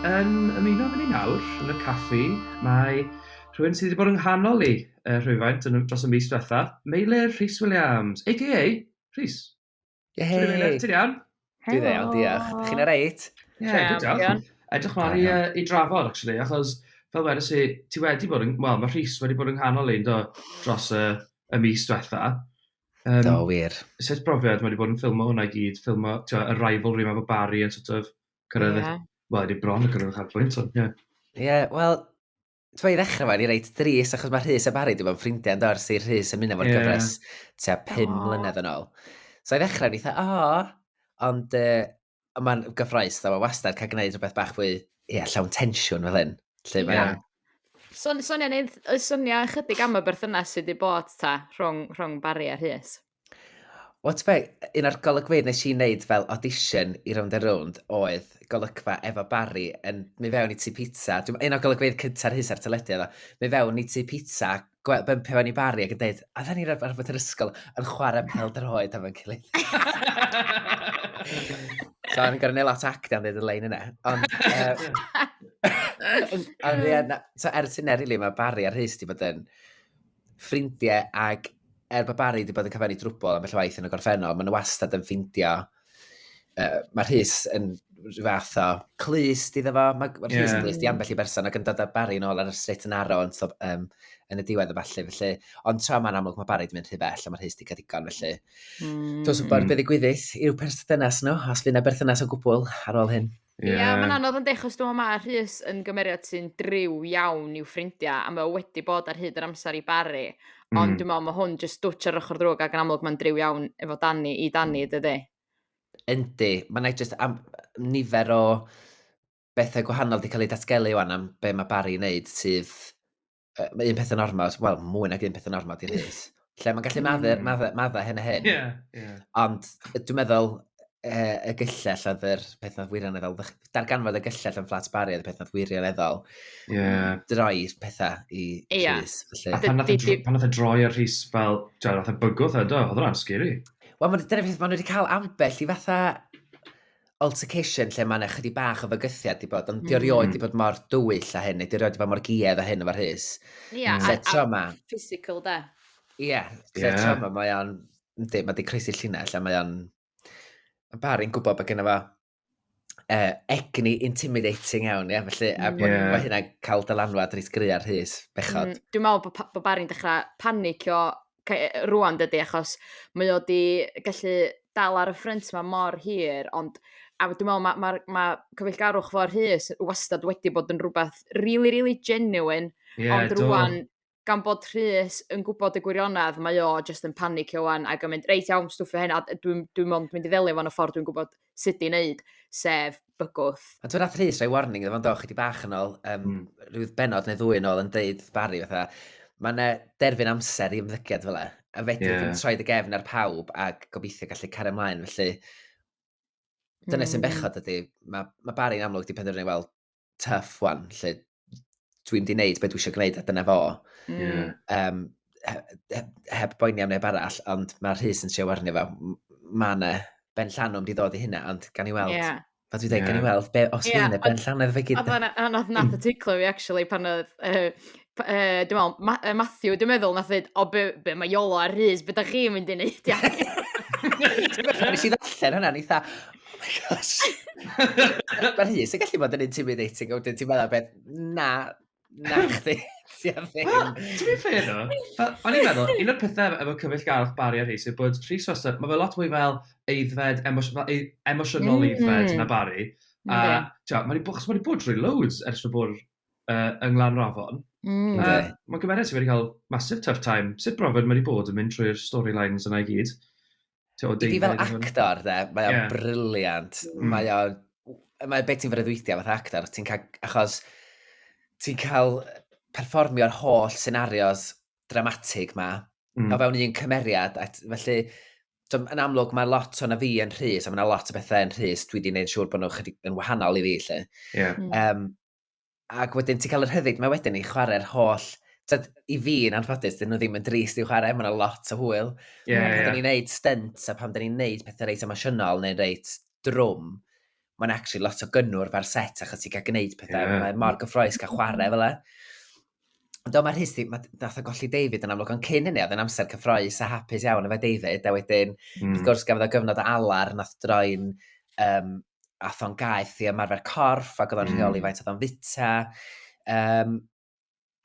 Yn ymuno gyda ni nawr yn y caffi, mae rhywun sydd wedi bod yng nghanol i yy rhywfaint yn dros y mis diwetha. Meilir Rhys Williams, aka Rhys. Yehey! Ti'n iawn? Dwi dde iawn, diolch. Dych chi'n reit? Ie, yeah, good job. Edrych mlaen i, uh, i drafod, actually, achos fel wedys i, ti wedi bod yn, wel, mae Rhys wedi bod yn nghanol ein do dros y, y mis diwetha. Um, do, wir. Sut brofiad mae wedi bod yn ffilmo hwnna i gyd, ffilmo, ti'n y rivalry mae fo Barry yn sort of cyrraedd, yeah. wel, wedi bron yn cyrraedd y chafbwynt, ond, ie. Yeah. Ie, yeah, wel, T'mo' i ddechrau efo, ni reit drist, achos mae Rhys a Barry wedi bod yn ffrindiau yn do, ers i Rhys ymuno fo'r yeah. gyfres tua pum oh. mlynedd yn ôl. So i ddechrau, ni dda, o, ond uh, mae'n gyffroes, dda, mae wastad cael gwneud rhywbeth bach fwy, ie, yeah, llawn tensiwn fel hyn. Lle mae yeah. Son, sonia, neud, sonia ychydig am y berthynas sydd wedi bod ta, rhwng, rhwng Barry a Rhys. Wel, be, un o'r golygfeydd nes i wneud fel audition i rownd a rownd oedd golygfa efo Barry yn mi fewn i tu pizza. Dwi'n, un o'r golygfeydd cynta'r hys ar teledu efo. Mi fewn i tu pizza, bympio fewn i Barry ac yn dweud, a dda ni ar rhywbeth yr ysgol yn chwarae pel droed am yn cyleid. so, o'n i'n gorau neud lot actio am ddeud y lein yna. Ond, uh, ond ie, so ers hynna, really, mae Barry ar hys di bod yn ffrindiau ac er bod Barry wedi bod yn cyfennu drwbl am felly waith yn y gorffennol, maen nhw wastad yn ffeindio, uh, mae Rhys yn rhyw fath o clust iddo fo, mae ma Rhys yn clust i ambell i berson ac yn dod â Barry yn ôl ar y strit yn arro yn, so, um, yn y diwedd y falle, felly, ond tra mae'n amlwg mae Barry wedi mynd rhy bell a mae Rhys wedi cael digon, felly. Mm. Dwi'n gwybod beth i gwyddydd i'w perthynas nhw, os fydd yna berthynas o gwbl ar ôl hyn. Ie, yeah. mae'n anodd yn dechrau stwm yma, Rhys yn gymeriad sy'n driw iawn i'w ffrindiau, a mae o wedi bod ar hyd yr amser i Barry, mm. ond dwi'n meddwl mae hwn jyst dwtch ar ochr ddrwg ac yn amlwg mae'n driw iawn efo Danny i Danny, mm. dydy? Yndi, mae'n ei jyst am nifer o bethau gwahanol wedi cael ei datgelu o'n am be mae Barry yn neud sydd uh, mae un peth yn ormod, wel, mwy nag un peth yn ormod i'r hys. Lle mae'n gallu hmm. madda, madda, madda hyn a hyn. Yeah, yeah. Ond dwi'n meddwl, e, y gyllell oedd yr peth nath wirioneddol, darganfod y gyllell yn fflat bari oedd y peth nath wirioneddol. Yeah. Droi'r pethau i yeah. Rhys. A pan nath y droi ar Rhys fel, dwi'n nath y bygwth edo, oedd hwnna'n scary. Wel, mae'n dyna peth, maen nhw wedi cael ambell i fatha altercation lle mae'n ychydig bach o fygythiad di bod, ond mm. di orioed di bod mor dywyll a hyn, neu di orioed di bod mor giedd a hyn o fy rhys. Ie, yeah, a, trauma. a physical da. Ie, yeah, lle yeah. trauma mae o'n, ynddi, mae di croesi llinell a mae o'n, mae bar i'n gwybod bod gen fo uh, egni intimidating iawn, ie, felly, a bod yeah. ma hynna cael dylanwad rhys gry ar rhys, bechod. Mm, dwi'n meddwl bod, bod Barry'n dechrau panicio rŵan dydy achos mae o 'di gallu dal ar y ffrynt 'ma mor hir ond a dwi me'wl ma' ma'r ma' cyfeillgarwch mor Rhys wastad wedi bod yn rwbath rili rili genuine... Ie do. ...ond rŵan gan bod Rhys yn gwbod y gwirionedd mae o jyst yn panicio 'wan ac yn mynd reit iawn stwffio hyn a dwi'm dwi mond mynd i ddelio efo fo yn y ffordd dwi'n gwbod sut i wneud, sef bygwth. Ond dwi'n nath Rhys rhoi warning iddo fo'n do, chi di bach yn ôl, um, mm. rhyw benod neu ddwy yn ôl yn deud Barry fatha, mae yna derfyn amser i ymddygiad fel e, a fedrwch yeah. yn troi dy gefn ar pawb ac gobeithio gallu cario ymlaen, felly dyna mm. sy'n hmm. bechod ydy, mae ma Barry'n amlwg di penderfynu, wel, tuff wan, lle dwi'n di wneud beth dwi eisiau gwneud a dyna fo. Mm. Um, heb boeni am neb arall, ond mae'r rhys yn siw arni fe. Mae yna ben llanwm di ddod i hynna, ond gan i weld. Yeah. Fe dwi dweud, yeah. gan i weld, be, os yeah. yna ben llanwm fe gyd. Ond nath y teiclo fi, actually, pan oedd uh, yy dwi me'wl Ma- yy Matthew dwi'n meddwl nath ddeud o be' be' ma' Iolo a Rhys be' 'dach chi'n mynd i neud ia? Nes i ddarllen hwnna o'n i tha oh my gosh. Ma' Rhys yn gallu bod yn intimidating a wedyn ti'n meddwl beth na na chdi ti ar ddim. Wel, to be fair though, o'n i'n meddwl, un o'r pethau efo cyfaill garwch Barry a Rhys yw bod Rhys wastad, mae fe lot mwy fel eiddfed, emosiynol mm. eiddfed na Barry. A, mm. ti'n mae wedi bod, mae wedi bod drwy loads ers fy bod uh, yng Nglanrafon. Mm. Uh, mae gymeriad sydd wedi cael massive tough time. Sut brofiad mae wedi bod yn mynd trwy'r storylines yna i gyd? I fi fel actor, de, mae o'n yeah. briliant. Mm. Mae o'n... Mae beth ti'n freuddwydio fath actor, ti'n cael... Achos ti'n cael perfformio'r holl scenarios dramatig ma, mm. o fewn un cymeriad, a felly, so, yn amlwg mae lot o'n fi yn rhys, a mae yna lot o bethau yn rhys, dwi wedi gwneud siŵr bod nhw'n chydig yn wahanol i fi, lle. Yeah. Mm. Um, ac wedyn ti'n cael yr hyddid mae wedyn i chwarae'r holl Tyd, i fi yn anffodus, dyn nhw ddim yn drist i'w chwarae, mae'n lot o hwyl. Yeah, pan yeah. dyn ni'n neud stunt a pan dyn ni'n neud pethau reit emosiynol neu reit drwm, mae'n actually lot o gynnwr fa'r set achos ti'n cael gwneud pethau, yeah. mae'n mor gyffroes cael chwarae fel e. Do, mae Rhys, mae dath o golli David yn amlwg, ond cyn hynny, oedd yn amser cyffroes a hapus iawn efo David, a wedyn, mm. wrth gwrs, gafodd o gyfnod o alar, nath droi'n, um, ath o'n gaeth i ymarfer corff, ac oedd o'n mm. rheoli faint oedd o'n fita. Um,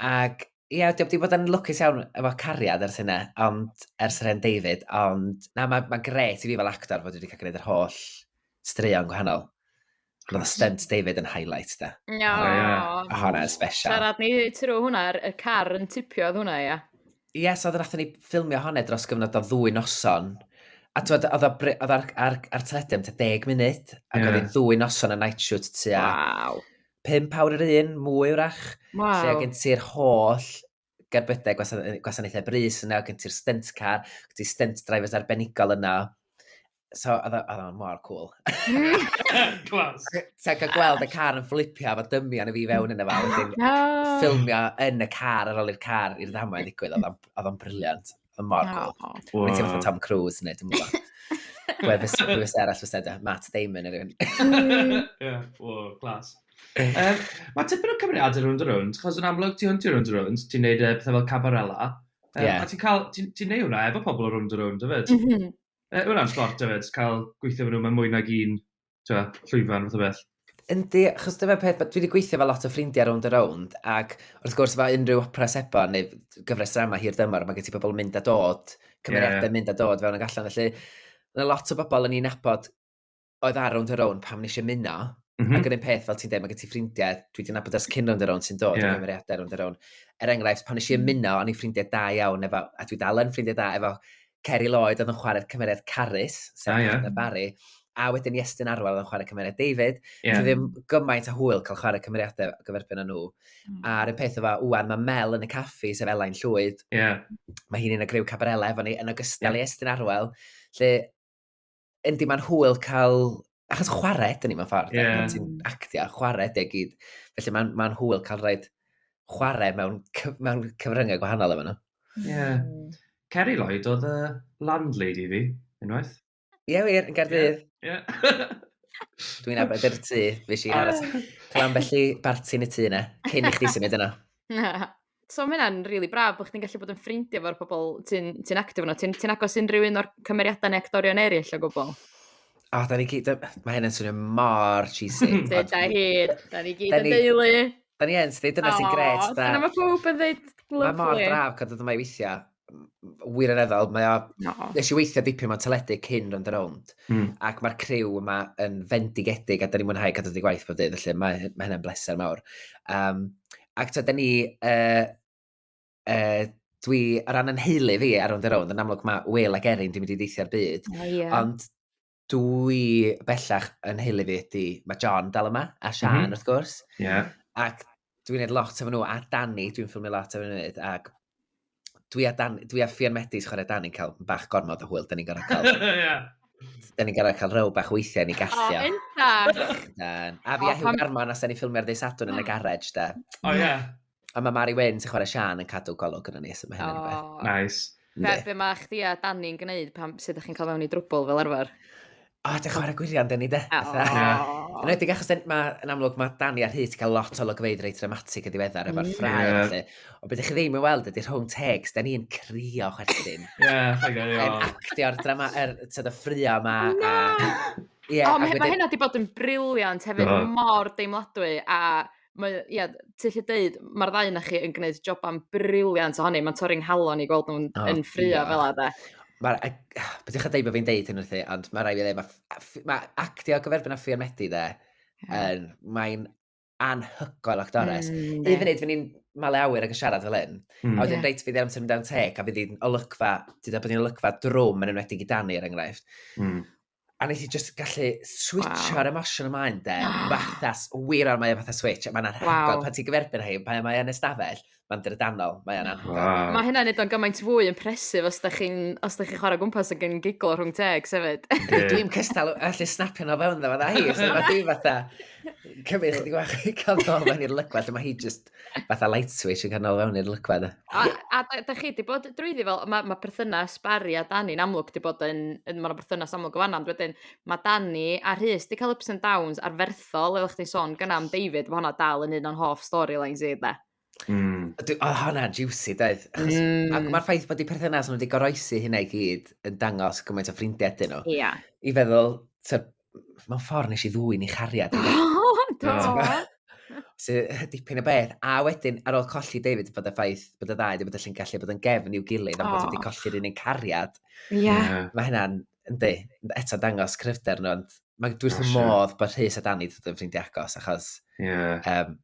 ac, ie, yeah, wedi bod yn lwcus iawn efo cariad ers hynna, ond ers yr hen David, ond, na, mae'n ma gret i fi fel actor fod wedi cael gwneud yr holl straeon gwahanol. Roedd stunt David yn highlight da. No. Oh, yeah. Hwna special. Siarad ni trwy hwnna, y car yn tipio oedd hwnna, ia. Ie, yes, oedd nath ni ffilmio hwnna dros gyfnod o ddwy noson. A oedd ar, ar, ar, ar teledu am 10 munud, ac yeah. oedd hi'n ddwy noson y night shoot tua. Wow. Pimp awr yr un, mwy wrach. Wow. Lle gen ti'r holl gerbydau gwasanaethau brys yna, gen ti'r stunt car, gen ti stunt drivers arbenigol yna. So, oedd o'n mor cool. Clas. Ti'n cael gweld y car yn fflipio efo dymu yn y fi fewn yna fel. Ffilmio yn y car ar ôl i'r car i'r ddamau ddigwydd, oedd o'n briliant. yn mor cool. Oh, oh. Wow. Ti'n fatha Tom Cruise neu dim ond. Gwefus gwefus arall fes edrych, Matt Damon yr un. Ie, o, glas. Um, mae tipyn o cymeriadau rwy'n dy rwy'n, chos yn amlwg ti hwn ti rwy'n dy rwy'n, ti'n neud e, pethau fel cabarella. Um, yeah. A ti'n cael, ti'n ti neud hwnna efo pobl o rwy'n dy rwy'n, dyfyd? Mm -hmm. uh, hwnna'n sport, dyfyd, cael gweithio fy nhw, mae mwy nag un tywed, llwyfan, fath o beth. Yndi, achos dyma peth, dwi wedi gweithio fel lot o ffrindiau rownd a rownd, ac wrth gwrs fel unrhyw opera seba neu gyfres drama hir dymor, mae gen ti pobl yn mynd a dod, cymeriadau yeah. mynd a dod fewn ag allan, felly mae lot o bobl yn ei nabod oedd ar rownd a rownd pam nes i muno, mm -hmm. ac yn un peth, fel ti'n dweud, mae gen ti ffrindiau, dwi wedi nabod ers cyn rownd a rownd sy'n dod yeah. yn cymeriadau rownd a rownd. Er enghraifft, pan nes i ymuno, o'n i'n ffrindiau da iawn efo, a dwi dal yn ffrindiau da efo Ceri Lloyd oedd yn chwarae'r cymeriad Carys, sef ah, yeah. Barry, a wedyn Iestyn Arwel oedd yn chwarae cymeriad David. Yeah. Dwi ddim gymaint a hwyl cael chwarae cymeriadau o gyferbyn â nhw. Mm. A'r un peth o fa, wwan, mae Mel yn y caffi, sef Elain Llwyd. Yeah. Mae hi'n un o griw Cabarella efo ni, yn ogystal yeah. i Estyn Arwel. Lle Yndi, mae'n hwyl cael... Achos chwarae, dyn ni mewn ffordd. Yeah. Pan ti'n actio, chwarae, deg gyd. Felly mae'n ma hwyl cael rhaid chwarae mewn, mewn cyfryngau gwahanol efo nhw. Ie. Yeah. Hmm. Kerry Lloyd oedd y landlady fi, unwaith. Ie, yeah, wir, yn Gaerdydd. Ie. Yeah. Yeah. Dwi'n abod yr tŷ, fi si aros. Clan felly barti yn y tŷ yna, cyn i chdi symud yna. So mae hynna'n rili braf bod chdi'n gallu bod yn ffrindiau efo'r pobl ti'n ti actif yno. Ti'n ti agos unrhyw un o'r cymeriadau neu actorion eraill o gwbl? O, da ni gyd... Mae hynny'n swnio mor cheesy. Dwi da hi. Da ni gyd yn deulu. Da ni yn, sydd dyna sy'n gret. Dyna mae pob yn dweud lyflu. Mae mor braf cadw dyma i weithiau. wirioneddol, mae o... No. Nes i weithio dipyn mewn teledu cyn rond around, mm. ac mae'r criw yma yn fendigedig, a da ni'n mwynhau cadw di gwaith pob dydd, felly mae, mae hynny'n bleser mawr. Um, ac ta, da ni... Uh, uh, dwi, ar ran yn heili fi ar rond around, yn amlwg mae Will ac Erin dwi'n mynd i deithio'r byd, oh, yeah. ond Dwi bellach yn heili fi ydi, mae John dal yma, a Sian mm -hmm. wrth gwrs. Yeah. Ac dwi'n neud lot efo nhw, a Danny, dwi'n ffilmio lot efo nhw, ac dwi a, Dan, dwi a Fian Medis chwarae Danny'n cael bach gormod o hwyl, da ni'n gorau cael... yeah. Da ni'n gorau cael rhyw bach weithiau ni gallio. O, oh, A fi a Hugh Garman, os da ni'n ffilmio'r ddeis adwn yn y garage, da. O, ie. A mae Mari Wyn sy'n chwarae Sian yn cadw golwg yn y nes yma hyn yn rhywbeth. Oh. Nice. Be, be mae chdi a Dani'n gwneud pan sydd ydych chi'n cael mewn i drwbl fel arfer? O, oh, dych chwarae gwirion, Dani, de. Oh. Yn edrych achos, ma, yn amlwg, mae Dani a Rhys cael lot o logfeidd reit dramatig yn ddiweddar efo'r mm. ffrae. Yeah. Felly. O, beth ych chi ddim yn weld ydy rhwng tegs, da ni'n crio chwerthin. Ie, yeah, Yn actio'r drama, er, tyd y ffrio yma. No! A, yeah, o, mae hynna wedi bod yn briliant hefyd, mor deimladwy, a Mae o ia ti ellu deud ma'r ddau o'na chi yn gwneud joban briliant ohoni mae'n torri 'nghalon i gweld nhw'n oh, yn ffrio fel yna de. Mae'r... Be dych chi'n deud bod fi'n deud hyn wrthi, ond mae rai fi ddeud, mae, ma actio gyferbyn â Ffrian Medi de, yeah. mae'n anhygoel actores. Mm, Hyd yn oed fy ni'n male awyr ac yn siarad fel hyn. Mm. A wedyn yeah. reit fi ddim yn mynd teg, a fi ddim olygfa, ti'n dweud bod ni'n olygfa drwm yn enwedig i Dani er enghraifft. Mm. A nes i just gallu switch wow. ar emosiwn ymlaen de. Ah. Fathas, wir ar mae o fatha switch. Mae'n anhygoel wow. pan ti'n gyferbyn hyn, pan mae o'n ystafell, mae'n drydanol, mae o'n anhygoel. Wow. Mae hynna'n edrych yn gymaint fwy yn presif os da chi'n chi chwarae gwmpas ac yn giglo rhwng teg, sefyd. Dwi'n cystal allu snapio nhw fewn dda fydda hi, so mae di fatha cymryd chydig bach i cael ddol mewn i'r lygfa lle mae hi just fatha light switch yn canol fewn i'r lygfa yna. A, a da, da chi di bod drwyddi fel, mae ma perthynas Barry a Dani'n amlwg di bod yn, yn mae'n perthynas amlwg o fanna, ond wedyn mae Dani a Rhys di cael ups and downs arferthol, fel chdi'n sôn gan am David, mae hwnna dal yn un o'n hoff storylines i, da. Mm. Oedd oh, hwnna juicy, doedd. Mm. Mae'r ma ffaith bod y perthynas nhw wedi goroesi hynna i gyd yn dangos gymaint o ffrindiau dyn nhw. Ia. Yeah. I feddwl, mewn ffordd nes i ddwy ni chariad. O, do! So, dipyn o beth. A wedyn, ar ôl colli David, bod y ffaith bod y ddau wedi bod y llun gallu bod yn gefn i'w gilydd, ond bod wedi colli'r un yn cariad. Ie. Yeah. Mae hynna'n, yndi, eto dangos cryfder nhw, ond mae dwi'n wrth modd bod Rhys a Dani dod yn ffrindiau agos, achos yeah. um,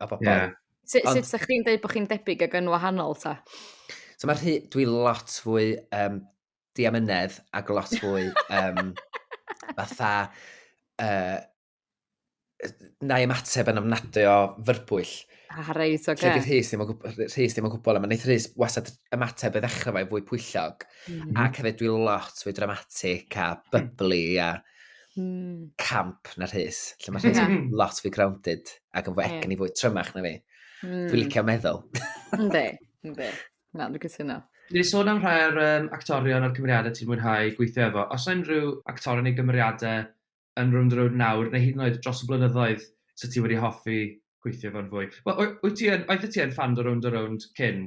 a bobl. Yeah. Sut, Ond... sut chi'n dweud bod chi'n debyg ag yn wahanol ta? So mae rhy... Dwi lot fwy um, diamynedd ac lot fwy um, fatha... Uh, na i ymateb yn ofnadwy o fyrbwyll. Ah, reit, oce. Okay. Rhydd Rhys ddim yn gwybod, Rhys ddim yn gwybod, ond wneud Rhys wasad ymateb y ddechrau fe fwy pwyllog. Mm. Ac hefyd dwi lot fwy dramatic a byblu a... mm. camp na rhys, lle mae rhys yeah. lot fwy grounded ac yn fwy yeah. egni fwy trymach na fi. Mm. Dwi'n licio meddwl. Ynddi, ynddi. Na, dwi'n cytuno. Ni sôn am rhai o'r um, actorion a'r cymeriadau ti'n mwynhau gweithio efo. Os yna unrhyw actor yn ei gymeriadau yn rhwng drwy'r nawr, neu hyd yn oed dros y blynyddoedd, sydd ti wedi hoffi gweithio fo'n fwy? Wel, wyt ti yn, oedd ti yn fan o rownd o rownd cyn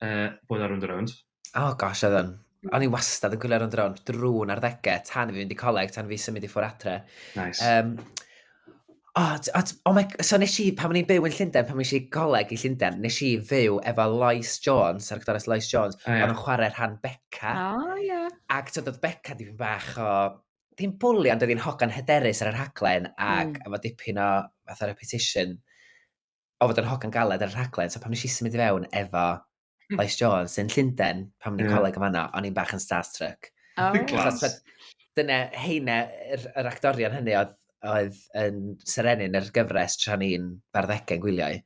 uh, bod ar Rwnd Rownd. Oh gosh, oedd yn. O'n i wastad yn gwylio Rwnd Rownd drwy'n arddegau, tan fi fynd i coleg, tan fi symud i ffwr adre. Nice. Um, oh, oh, oh my, so nes i, pan o'n i'n byw yn Llundain, pan o'n i coleg i Llundain, nes i fyw efo Lois Jones, ar gyda'r Lois Jones, oh, yeah. o'n chwarae rhan Becca. Oh, yeah. Ac tyd oedd Becca di fi'n bach o ddim bwli, ond oedd hi'n hogan hyderus ar yr haglen, ac mm. efo dipyn o fatha repetition. o fod yn hogan galed ar y rhaglen, so pan nes i symud i fewn efo hmm. Lois Jones yn Llundain, pan o'n i'n yeah. coleg yn fanna, o'n i'n bach yn starstruck. Oh. Achos, dyna heine, yr, yr actorion hynny oedd, oedd yn serenyn yr gyfres tra ni'n barddegau gwyliau.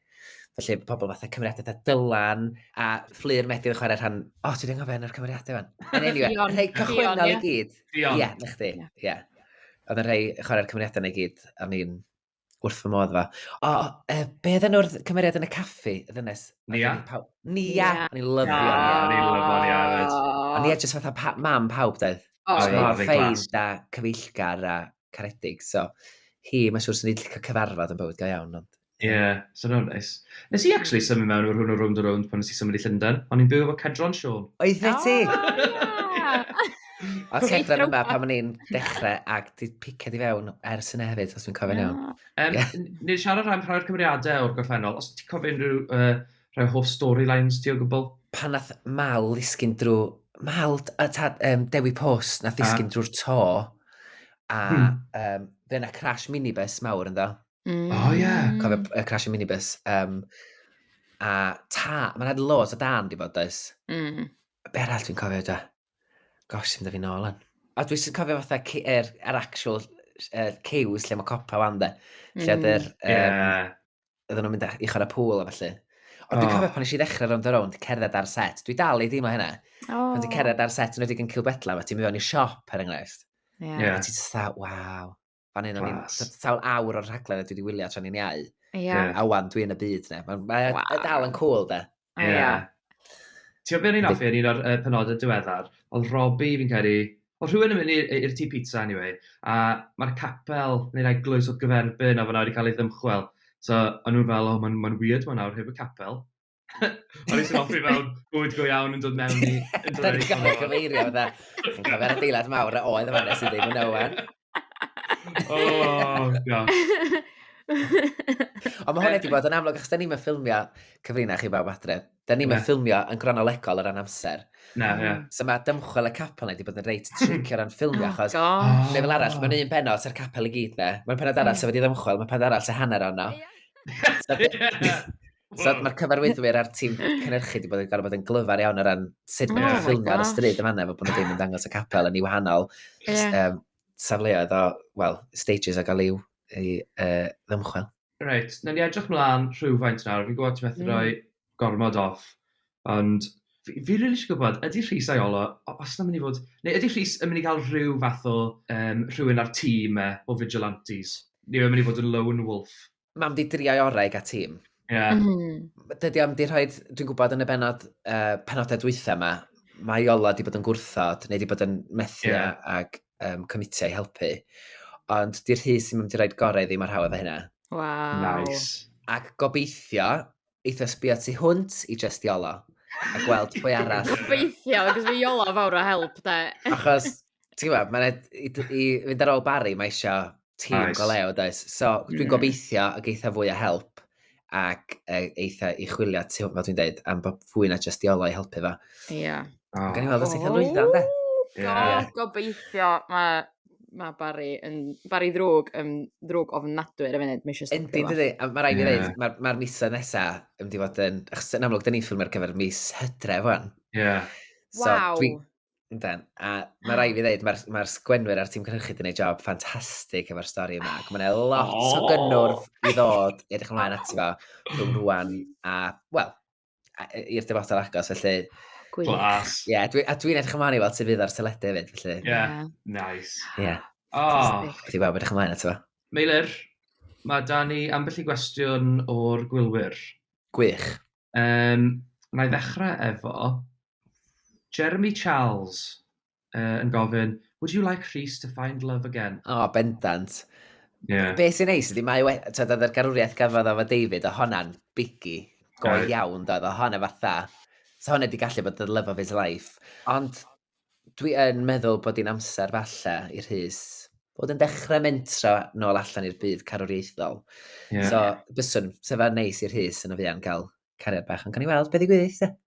Felly pobl fatha cymeriadau fatha Dylan a Fflur Medydd yn chwarae rhan... O, oh, ti'n dweud fe'n yr cymeriadau fan. Yn anyway, rhai cychwynnol i gyd. Ie, na chdi. Ie. Oedd yn rhai chwarae'r cymeriadau na i gyd, a ni'n wrth fy modd fa. O, uh, be oedd enw'r cymeriad yn y caffi, y ddynes? Nia? Nia! O'n i'n lyfio Nia. O'n i'n lyfio Nia. O'n Nia jyst fatha pa, mam pawb, dweud. Oh, Os mor ffein da cyfeillgar a caredig, so hi, mae'n siŵr sy'n ei llicio cyfarfod yn bywyd go iawn, ond... Ie, yeah, so no nice. Nes i actually symud mewn o'r hwn o rownd o rownd pan nes i symud i Llundain. O'n i'n byw efo Cedron Siôn. Oedd fe ti? Oh, yeah. Os Reit, hedfan yma rwbath. pan o'n i'n dechrau ac di piced i fewn ers yna hefyd, os dwi'n cofio'n iawn. Na. Yym, Ie. n- Ni siarad rhan rhoi'r cymeriadau o'r gorffennol, os ti'n cofio unrhyw uh, rhai o hoff storylines ti o gwbl? Pan nath Mal ddisgyn drwy... Mal, t- a tad, um, Dewi Pws, nath A. ddisgyn drwy'r to, a Hmm. um, fe yna crash minibus mawr ynddo. Mm. O, Oh, ie. Cofio y crash y minibus. Um, a ta, mae'n had loads o dan di fod does. Mm. Be arall dwi'n cofio da? Gosh, sy'n dyfu nôl yn. A dwi sy'n cofio fatha yr er, er actual er, cews lle mae copa fan dde. Lle mm. yr... Um, yeah. Oedden nhw'n mynd i chwarae pŵl a falle. Ond oh. dwi'n cofio pan eisiau ddechrau rownd o rownd, cerdded ar set. Dwi dal i ddim o hynna. Oh. Pan ti'n cerdded ar set yn wedi yn Cilbetla, fe ti'n mynd i siop, er enghraifft. Yeah. yeah. A ti'n dda, waw. Fan hyn o'n i'n sawl awr o'r rhaglen a dwi wedi wylio tra ni'n iau. Yeah. A wan, dwi yn y byd, ne. Mae'n ma wow. E dal yn cool, de. Ie. Yeah. yeah. Ti'n gwybod beth ni'n offi yn un o'r uh, penodau diweddar? Oedd Robbie, fi'n credu, o rhywun yn mynd i'r tŷ pizza, anyway, a mae'r capel neu'r eglwys o gyferbyn a fyna wedi cael ei ddymchwel. So, o'n nhw'n fel, oh, mae'n ma weird mae'n nawr heb y capel. O'n i'n hoffi mewn bwyd go iawn yn dod mewn i... Da ni'n cael cyfeirio fydda. Chi'n cael fe'r adeilad mawr a oedd yma nes i ddim yn ywen. Oh, gosh. Ond mae hwnna wedi bod yn amlwg, achos da ni'n mynd ffilmio cyfrinach chi bawb adre. Da ni'n mynd ffilmio yn gronolegol o ran amser. Na, ie. Yeah. So mae dymchwel y capel wedi bod yn reit tricio ran ffilmio, oh, achos... Oh, gosh. Neu fel arall, mae'n un penod sy'r capel i gyd, ne? Mae'n penod arall sy'n wedi ddymchwel, mae'n penod arall sy'n hanner ono. Yeah. So mm. mae'r cyfarwyddwyr a'r tîm cynnyrchu wedi bod yn gorfod bod yn glyfar iawn o ran sut oh mae'n ffilm ar y stryd yma efo bod nhw ddim yn dangos y capel yn ei wahanol yeah. um, safleoedd o, well, stages o gael i'w i, uh, ddymchwel. Reit, na ni edrych mlaen rhywfaint nawr. Fi'n gwybod ti methu mm. rhoi gormod off, ond fi, fi rili eisiau gwybod, ydy Rhys a'i Olo, os na mynd i fod, neu ydy Rhys yn mynd i gael rhyw fath o um, rhywun ar tîm e, o vigilantes? Neu yn mynd i fod yn lone wolf? Mam di driau orau a tîm. Yeah. Mm -hmm. Dydy am di rhoi, dwi'n gwybod yn y benod, uh, penodau dwythau yma, mae Iola di bod yn gwrthod, neu di bod yn methu yeah. ag um, comitiau helpu. Ond di'r rhys sy'n mynd i roi'r gorau ddim ar hawdd o hynna. Wow. Nice. Ac gobeithio, eitha sbio tu hwnt i just iolo a gweld pwy arall. Gobeithio, cos fi iolo fawr o help, da. Achos, ti'n gwybod, mae'n i, i fynd ar ôl Barry, mae eisiau tîm nice. go leo, does? So, dwi'n yeah. gobeithio ag eitha fwy o help ac e, eitha i chwilio tu hwnt, fel dwi'n dweud, am bod fwy na just iolo i helpu fo. Ie. Yeah. Oh. Gan i weld os eitha lwyddo, de? Yeah. Gobeithio, mae mae Barry yn... Barry ddrwg, yn ddrwg ofnadwy ar y funud, mae eisiau stopio. Yndi, dydy. A mae rhaid i ddweud, yeah. mae'r ma misoedd nesaf yn mynd i fod yn... Achos yn amlwg, dyn ni'n ffilm ar gyfer mis hydref fan. Ie. Yeah. So, wow. Dwi, Yndan. A mae rai fi ddeud, mae'r ma sgwenwyr a'r tîm cynhyrchu wedi gwneud job ffantastig efo'r stori yma. Ac mae'n lot oh. o gynnwrf i ddod i edrych ymlaen ati fo rhwng rwan a, wel, i'r dyfodol agos, felly... Gwych. Glas. Ie, yeah, dwi, a dwi'n edrych ymlaen i weld sydd fydd ar teledu hefyd, felly... Ie, yeah. yeah. nice. Ie. Yeah. Oh. Dwi'n gweld edrych ymlaen ato fo. Meilir, mae da ni ambell i gwestiwn o'r gwylwyr. Gwych. Um, na i ddechrau efo Jeremy Charles. uh, yn gofyn, would you like Rhys to find love again? O, oh, bendant. Yeah. Be sy'n neis ydy, mae wedi, tyd, oedd yr garwriaeth gafodd efo David, o honna'n bigi, go yeah. iawn, doedd, o honna fatha. So honna wedi gallu bod the love of his life. Ond dwi yn meddwl bod hi'n amser falle i Rhys bod yn dechrau mentro nôl allan i'r byd carwriaethol. Yeah. So, byswn, sef ar neis i'r hys yn y fuan gael cariad bach, ond gan i weld beth i gwyddi,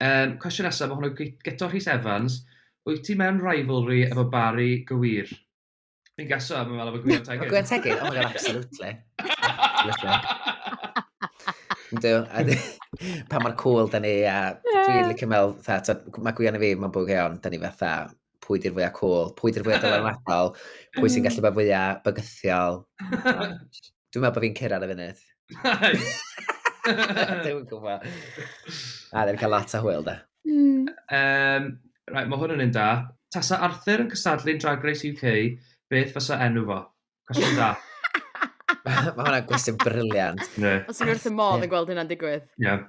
Yym, cwestiwn nesaf, mae hwn o Guto Rhys Evans. Wyt ti mewn rivalry efo Barry Gywir? Fi'n gaso, mae'n meddwl efo Gwyno Tegid. Gwyno Tegid? Oh my god, absolutely. Ynddo, pa mae'r cool da ni, a dwi'n licio meddwl, fatha, mae Gwion i fi, mae'n bwg iawn, da ni fatha, pwy di'r fwyaf cool, pwy di'r fwyaf dylanwadol, pwy sy'n gallu bod fwyaf bygythiol. Dwi'n meddwl bod fi'n cyrraedd y funud. Dwi'n gwybod. A ddim cael lot o hwyl da. Mm. Um, right, mae hwn yn un da. Tasa Arthur yn cystadlu'n Drag Race UK, beth fysa enw fo? Cwestiwn da. mae hwnna gwestiwn briliant. Yeah. Os yw'n wrth y modd yn gweld hynna'n digwydd. Yeah.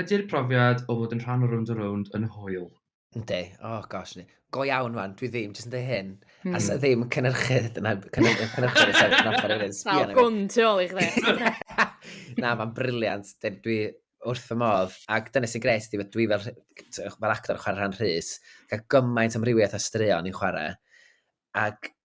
Ydy'r profiad o fod yn rhan o Rownd a Rownd yn hwyl? Yndi, oh gosh, ni. Go iawn man, dwi ddim, jyst yn dweud hyn. Mm. As ddim cynhyrchydd, dyna cynhyrchydd, cynhyrchydd, sef cynhyrchydd hefyd. Sal gwn tu ôl i chdi. Na, mae'n briliant. Dwi wrth y modd. Ac dyna sy'n gres, dwi fel, fel actor chwarae rhan rhys, cael gymaint amrywiaeth a straeon i'n chwarae. Ac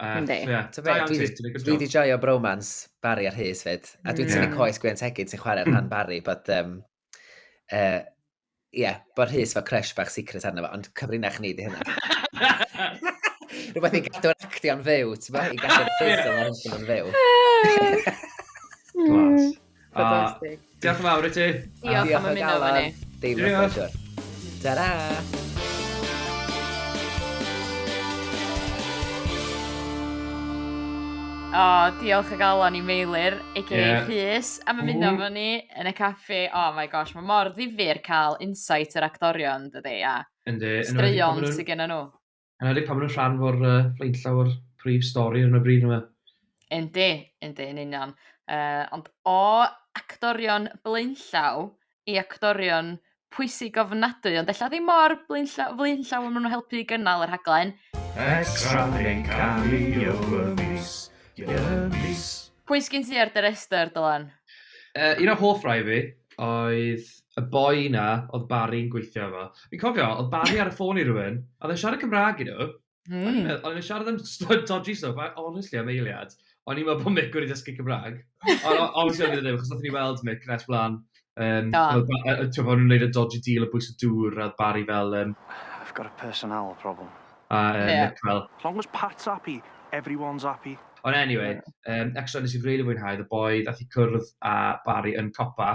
Uh, Yndi. So, yeah. Da iawn, Dwi wedi joio bromance Barry a Rhys fyd. A dwi'n tynnu mm. coes Gwen Tegid sy'n chwarae'r rhan Barry, but... Um, uh, yeah, bod Rhys fel crush bach secret arno fo, ond cyfrinach ni di hynna. Rhywbeth i gadw'r actio'n fyw, ti'n bod? I gadw'r ffeisol o'n fyw. Glas. Fantastic. Ah, diolch yn fawr i ti. Diolch am ymuno efo ni. Dim yn pleasure. Ta-ra! O, oh, diolch o galon i Meilir, a.k.a. Yeah. Rhys, am ymuno mm. fo ni yn y caffi. Oh my gosh, mae mor ddifur cael insight yr actorion, dydy, a Yndi, straeon sydd gen nhw. Yn edrych pan maen nhw'n rhan o'r uh, flaenllaw o'r prif stori ar y bryd yma. Yndi, yndi, yn union. Uh, ond o actorion blaenllaw i actorion pwysig ofnadwy, ond ella ddim mor blaenllaw, blaenllaw am nhw'n helpu i gynnal yr haglen. Extra yn cameo y mis, y mis. Pwy sgyn ti ar dy restr, Dylan? Uh, un o hoff rai fi oedd y boi 'na oedd Barry'n gweithio efo. Fi'n cofio, oedd Barry ar y ffôn i rywun, a oedd e'n siarad Cymraeg i nhw, mm. o'n i'n meddwl, o'n i'n siarad am stwyd dodgy stuff, a honestly am eiliad, o'n i'n meddwl bod Mick wedi dysgu Cymraeg. Ond obviously o'n i'n ddim, achos oedd ni'n weld Mick nes blaen. Um, Ti'n bod nhw'n gwneud y dodgy deal o bwys y dŵr, a Barry fel... Um, I've got a personnel problem. A um, yeah. Mick fel... As long as Pat's happy, everyone's happy. Ond anyway, um, extra nes i'n rili really fwynhau, y boi ddath i cwrdd a Barry yn copa,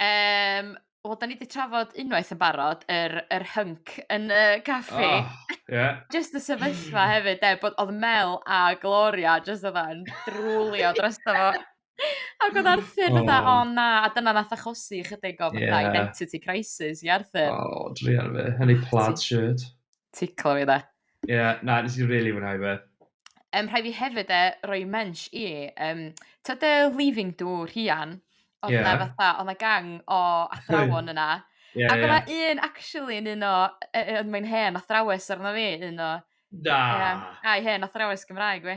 Yym wel 'dan ni 'di trafod unwaith yn barod yr yr hync yn y caffi. O ie. Jyst y sefyllfa hefyd 'de bod odd Mel a Gloria jyst fatha yn drwlio drosto fo. Ag odd Arthur fatha o na a dyna nath achosi ychydig o fatha... Ie. ...identity crisis i Arthur. O druan fi yn ei plaid shirt. Ticlo fi 'de. Ie, na, nes i rili fwynhau fe. Yym, rhai fi hefyd e, roi mensh i, um, tyd y Leaving Do, Rhian, oedd yeah. na fatha, oedd na gang o athrawon yna. yeah, Ac yeah. oedd un, actually, yn un o, yn mae'n hen athrawes arno fi, un o... Da! Yeah, ai hen athrawes Gymraeg fi.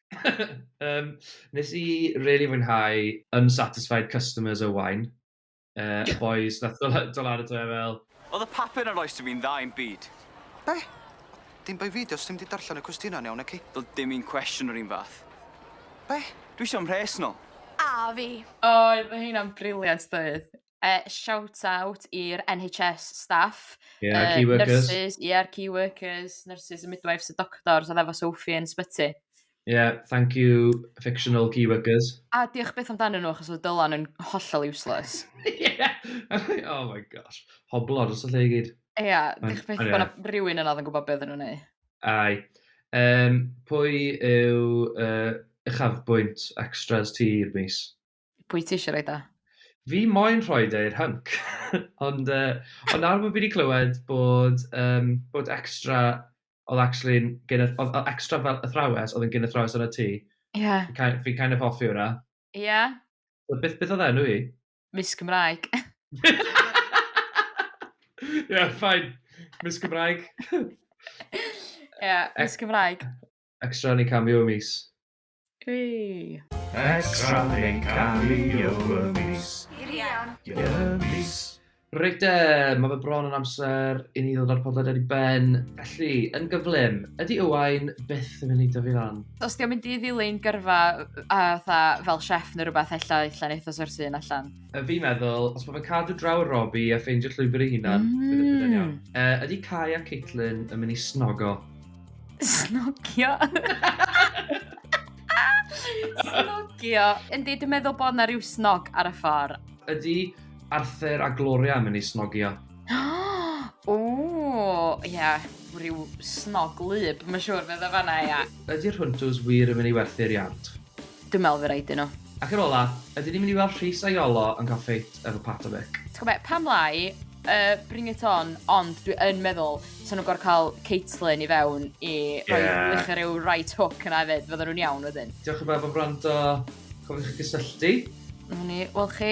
Yym nes i rili fwynhau Unsatisfied Customers o Waun. Yy y bois nath do- yy do' lan ato fe fel... O'dd y papur yn rhoi sdim i'n dda i'm byd. Be? Dim bai fi 'di o, sdim 'di darllen y cwestiyna'n iawn naci? Do'dd dim un cwestiwn yr un fath. Be? Dwi isio mhres nol. A fi. Oedd heina'n briliant doedd? Yy shout out i'r NHS staff... Ie y key workers. ...yy nyrsys ie'r key workers nyrsys y midwives y doctors odd efo Sophie yn sbyty. Ie thank you fictional key workers. A diolch byth amdanyn nhw achos odd Dylan yn hollol useless. Ie oh my gosh. Hoblo dros y lle i gyd. Ia diolch byth bo' 'na rywun yna odd yn gwbod be' oddan nhw'n neu'. Ai. Yym pwy yw yy uchafbwynt extras ti i'r mis? Pwy ti eisiau rhaid o? Fi moyn rhoi e i'r hync. Ond uh, ond nawr bod fi wedi clywed bod, um, bod extra oedd actually yn gen oedd extra fel athrawes oedd yn gen athrawes yn y tŷ. Ie. Fi kind, fi kind of hoffi hwnna. Ie. Yeah. Beth, beth oedd enw i? Miss Cymraeg. Ie, yeah, ffain. Miss Cymraeg. Ie, yeah, Miss Cymraeg. Extra ni cameo mis. Hey! Extra yn cael ei y mis. Irian. Y mis. Reit de, mae fe bron yn amser i ni ddod â'r podlediad i ben. Felly, yn gyflym, ydy Owain byth yn mynd i dyfu lan? Os di'n mynd i ddilyn gyrfa a tha, fel chef neu rhywbeth ella allan eitha sorti yn allan. Y fi meddwl, os mae fe'n cadw draw y Robi a ffeindio llwybr ei hunan, mm. bydd yn iawn. Uh, ydy Kai a Caitlin yn mynd i snogo? Snogio. snogio. Yndi, dwi'n meddwl bod na rhyw snog ar y ffordd. Ydy Arthur a Gloria yn mynd i snogio? o, ie, yeah, rhyw snog lyb, mae'n siŵr fe dda fanna, ia. Ydy'r hwntws wir yn mynd i werthu'r iard? Dwi'n meddwl fy raid i nhw. Ac yn ola, ydyn ni'n mynd i weld Rhys a Iolo yn cael ffeit efo Pat a Mick? Ti'n gwybod be, pam lai, yy, bring it on, ond dwi yn meddwl so nhw'n gorfod cael Caitlyn i fewn i roi yeah. wych ar ryw right hook yna hefyd, fydden nhw'n iawn wedyn. Diolch yn fawr am wrando, cofiwch chi gysylltu. Mwyn i, wel chi,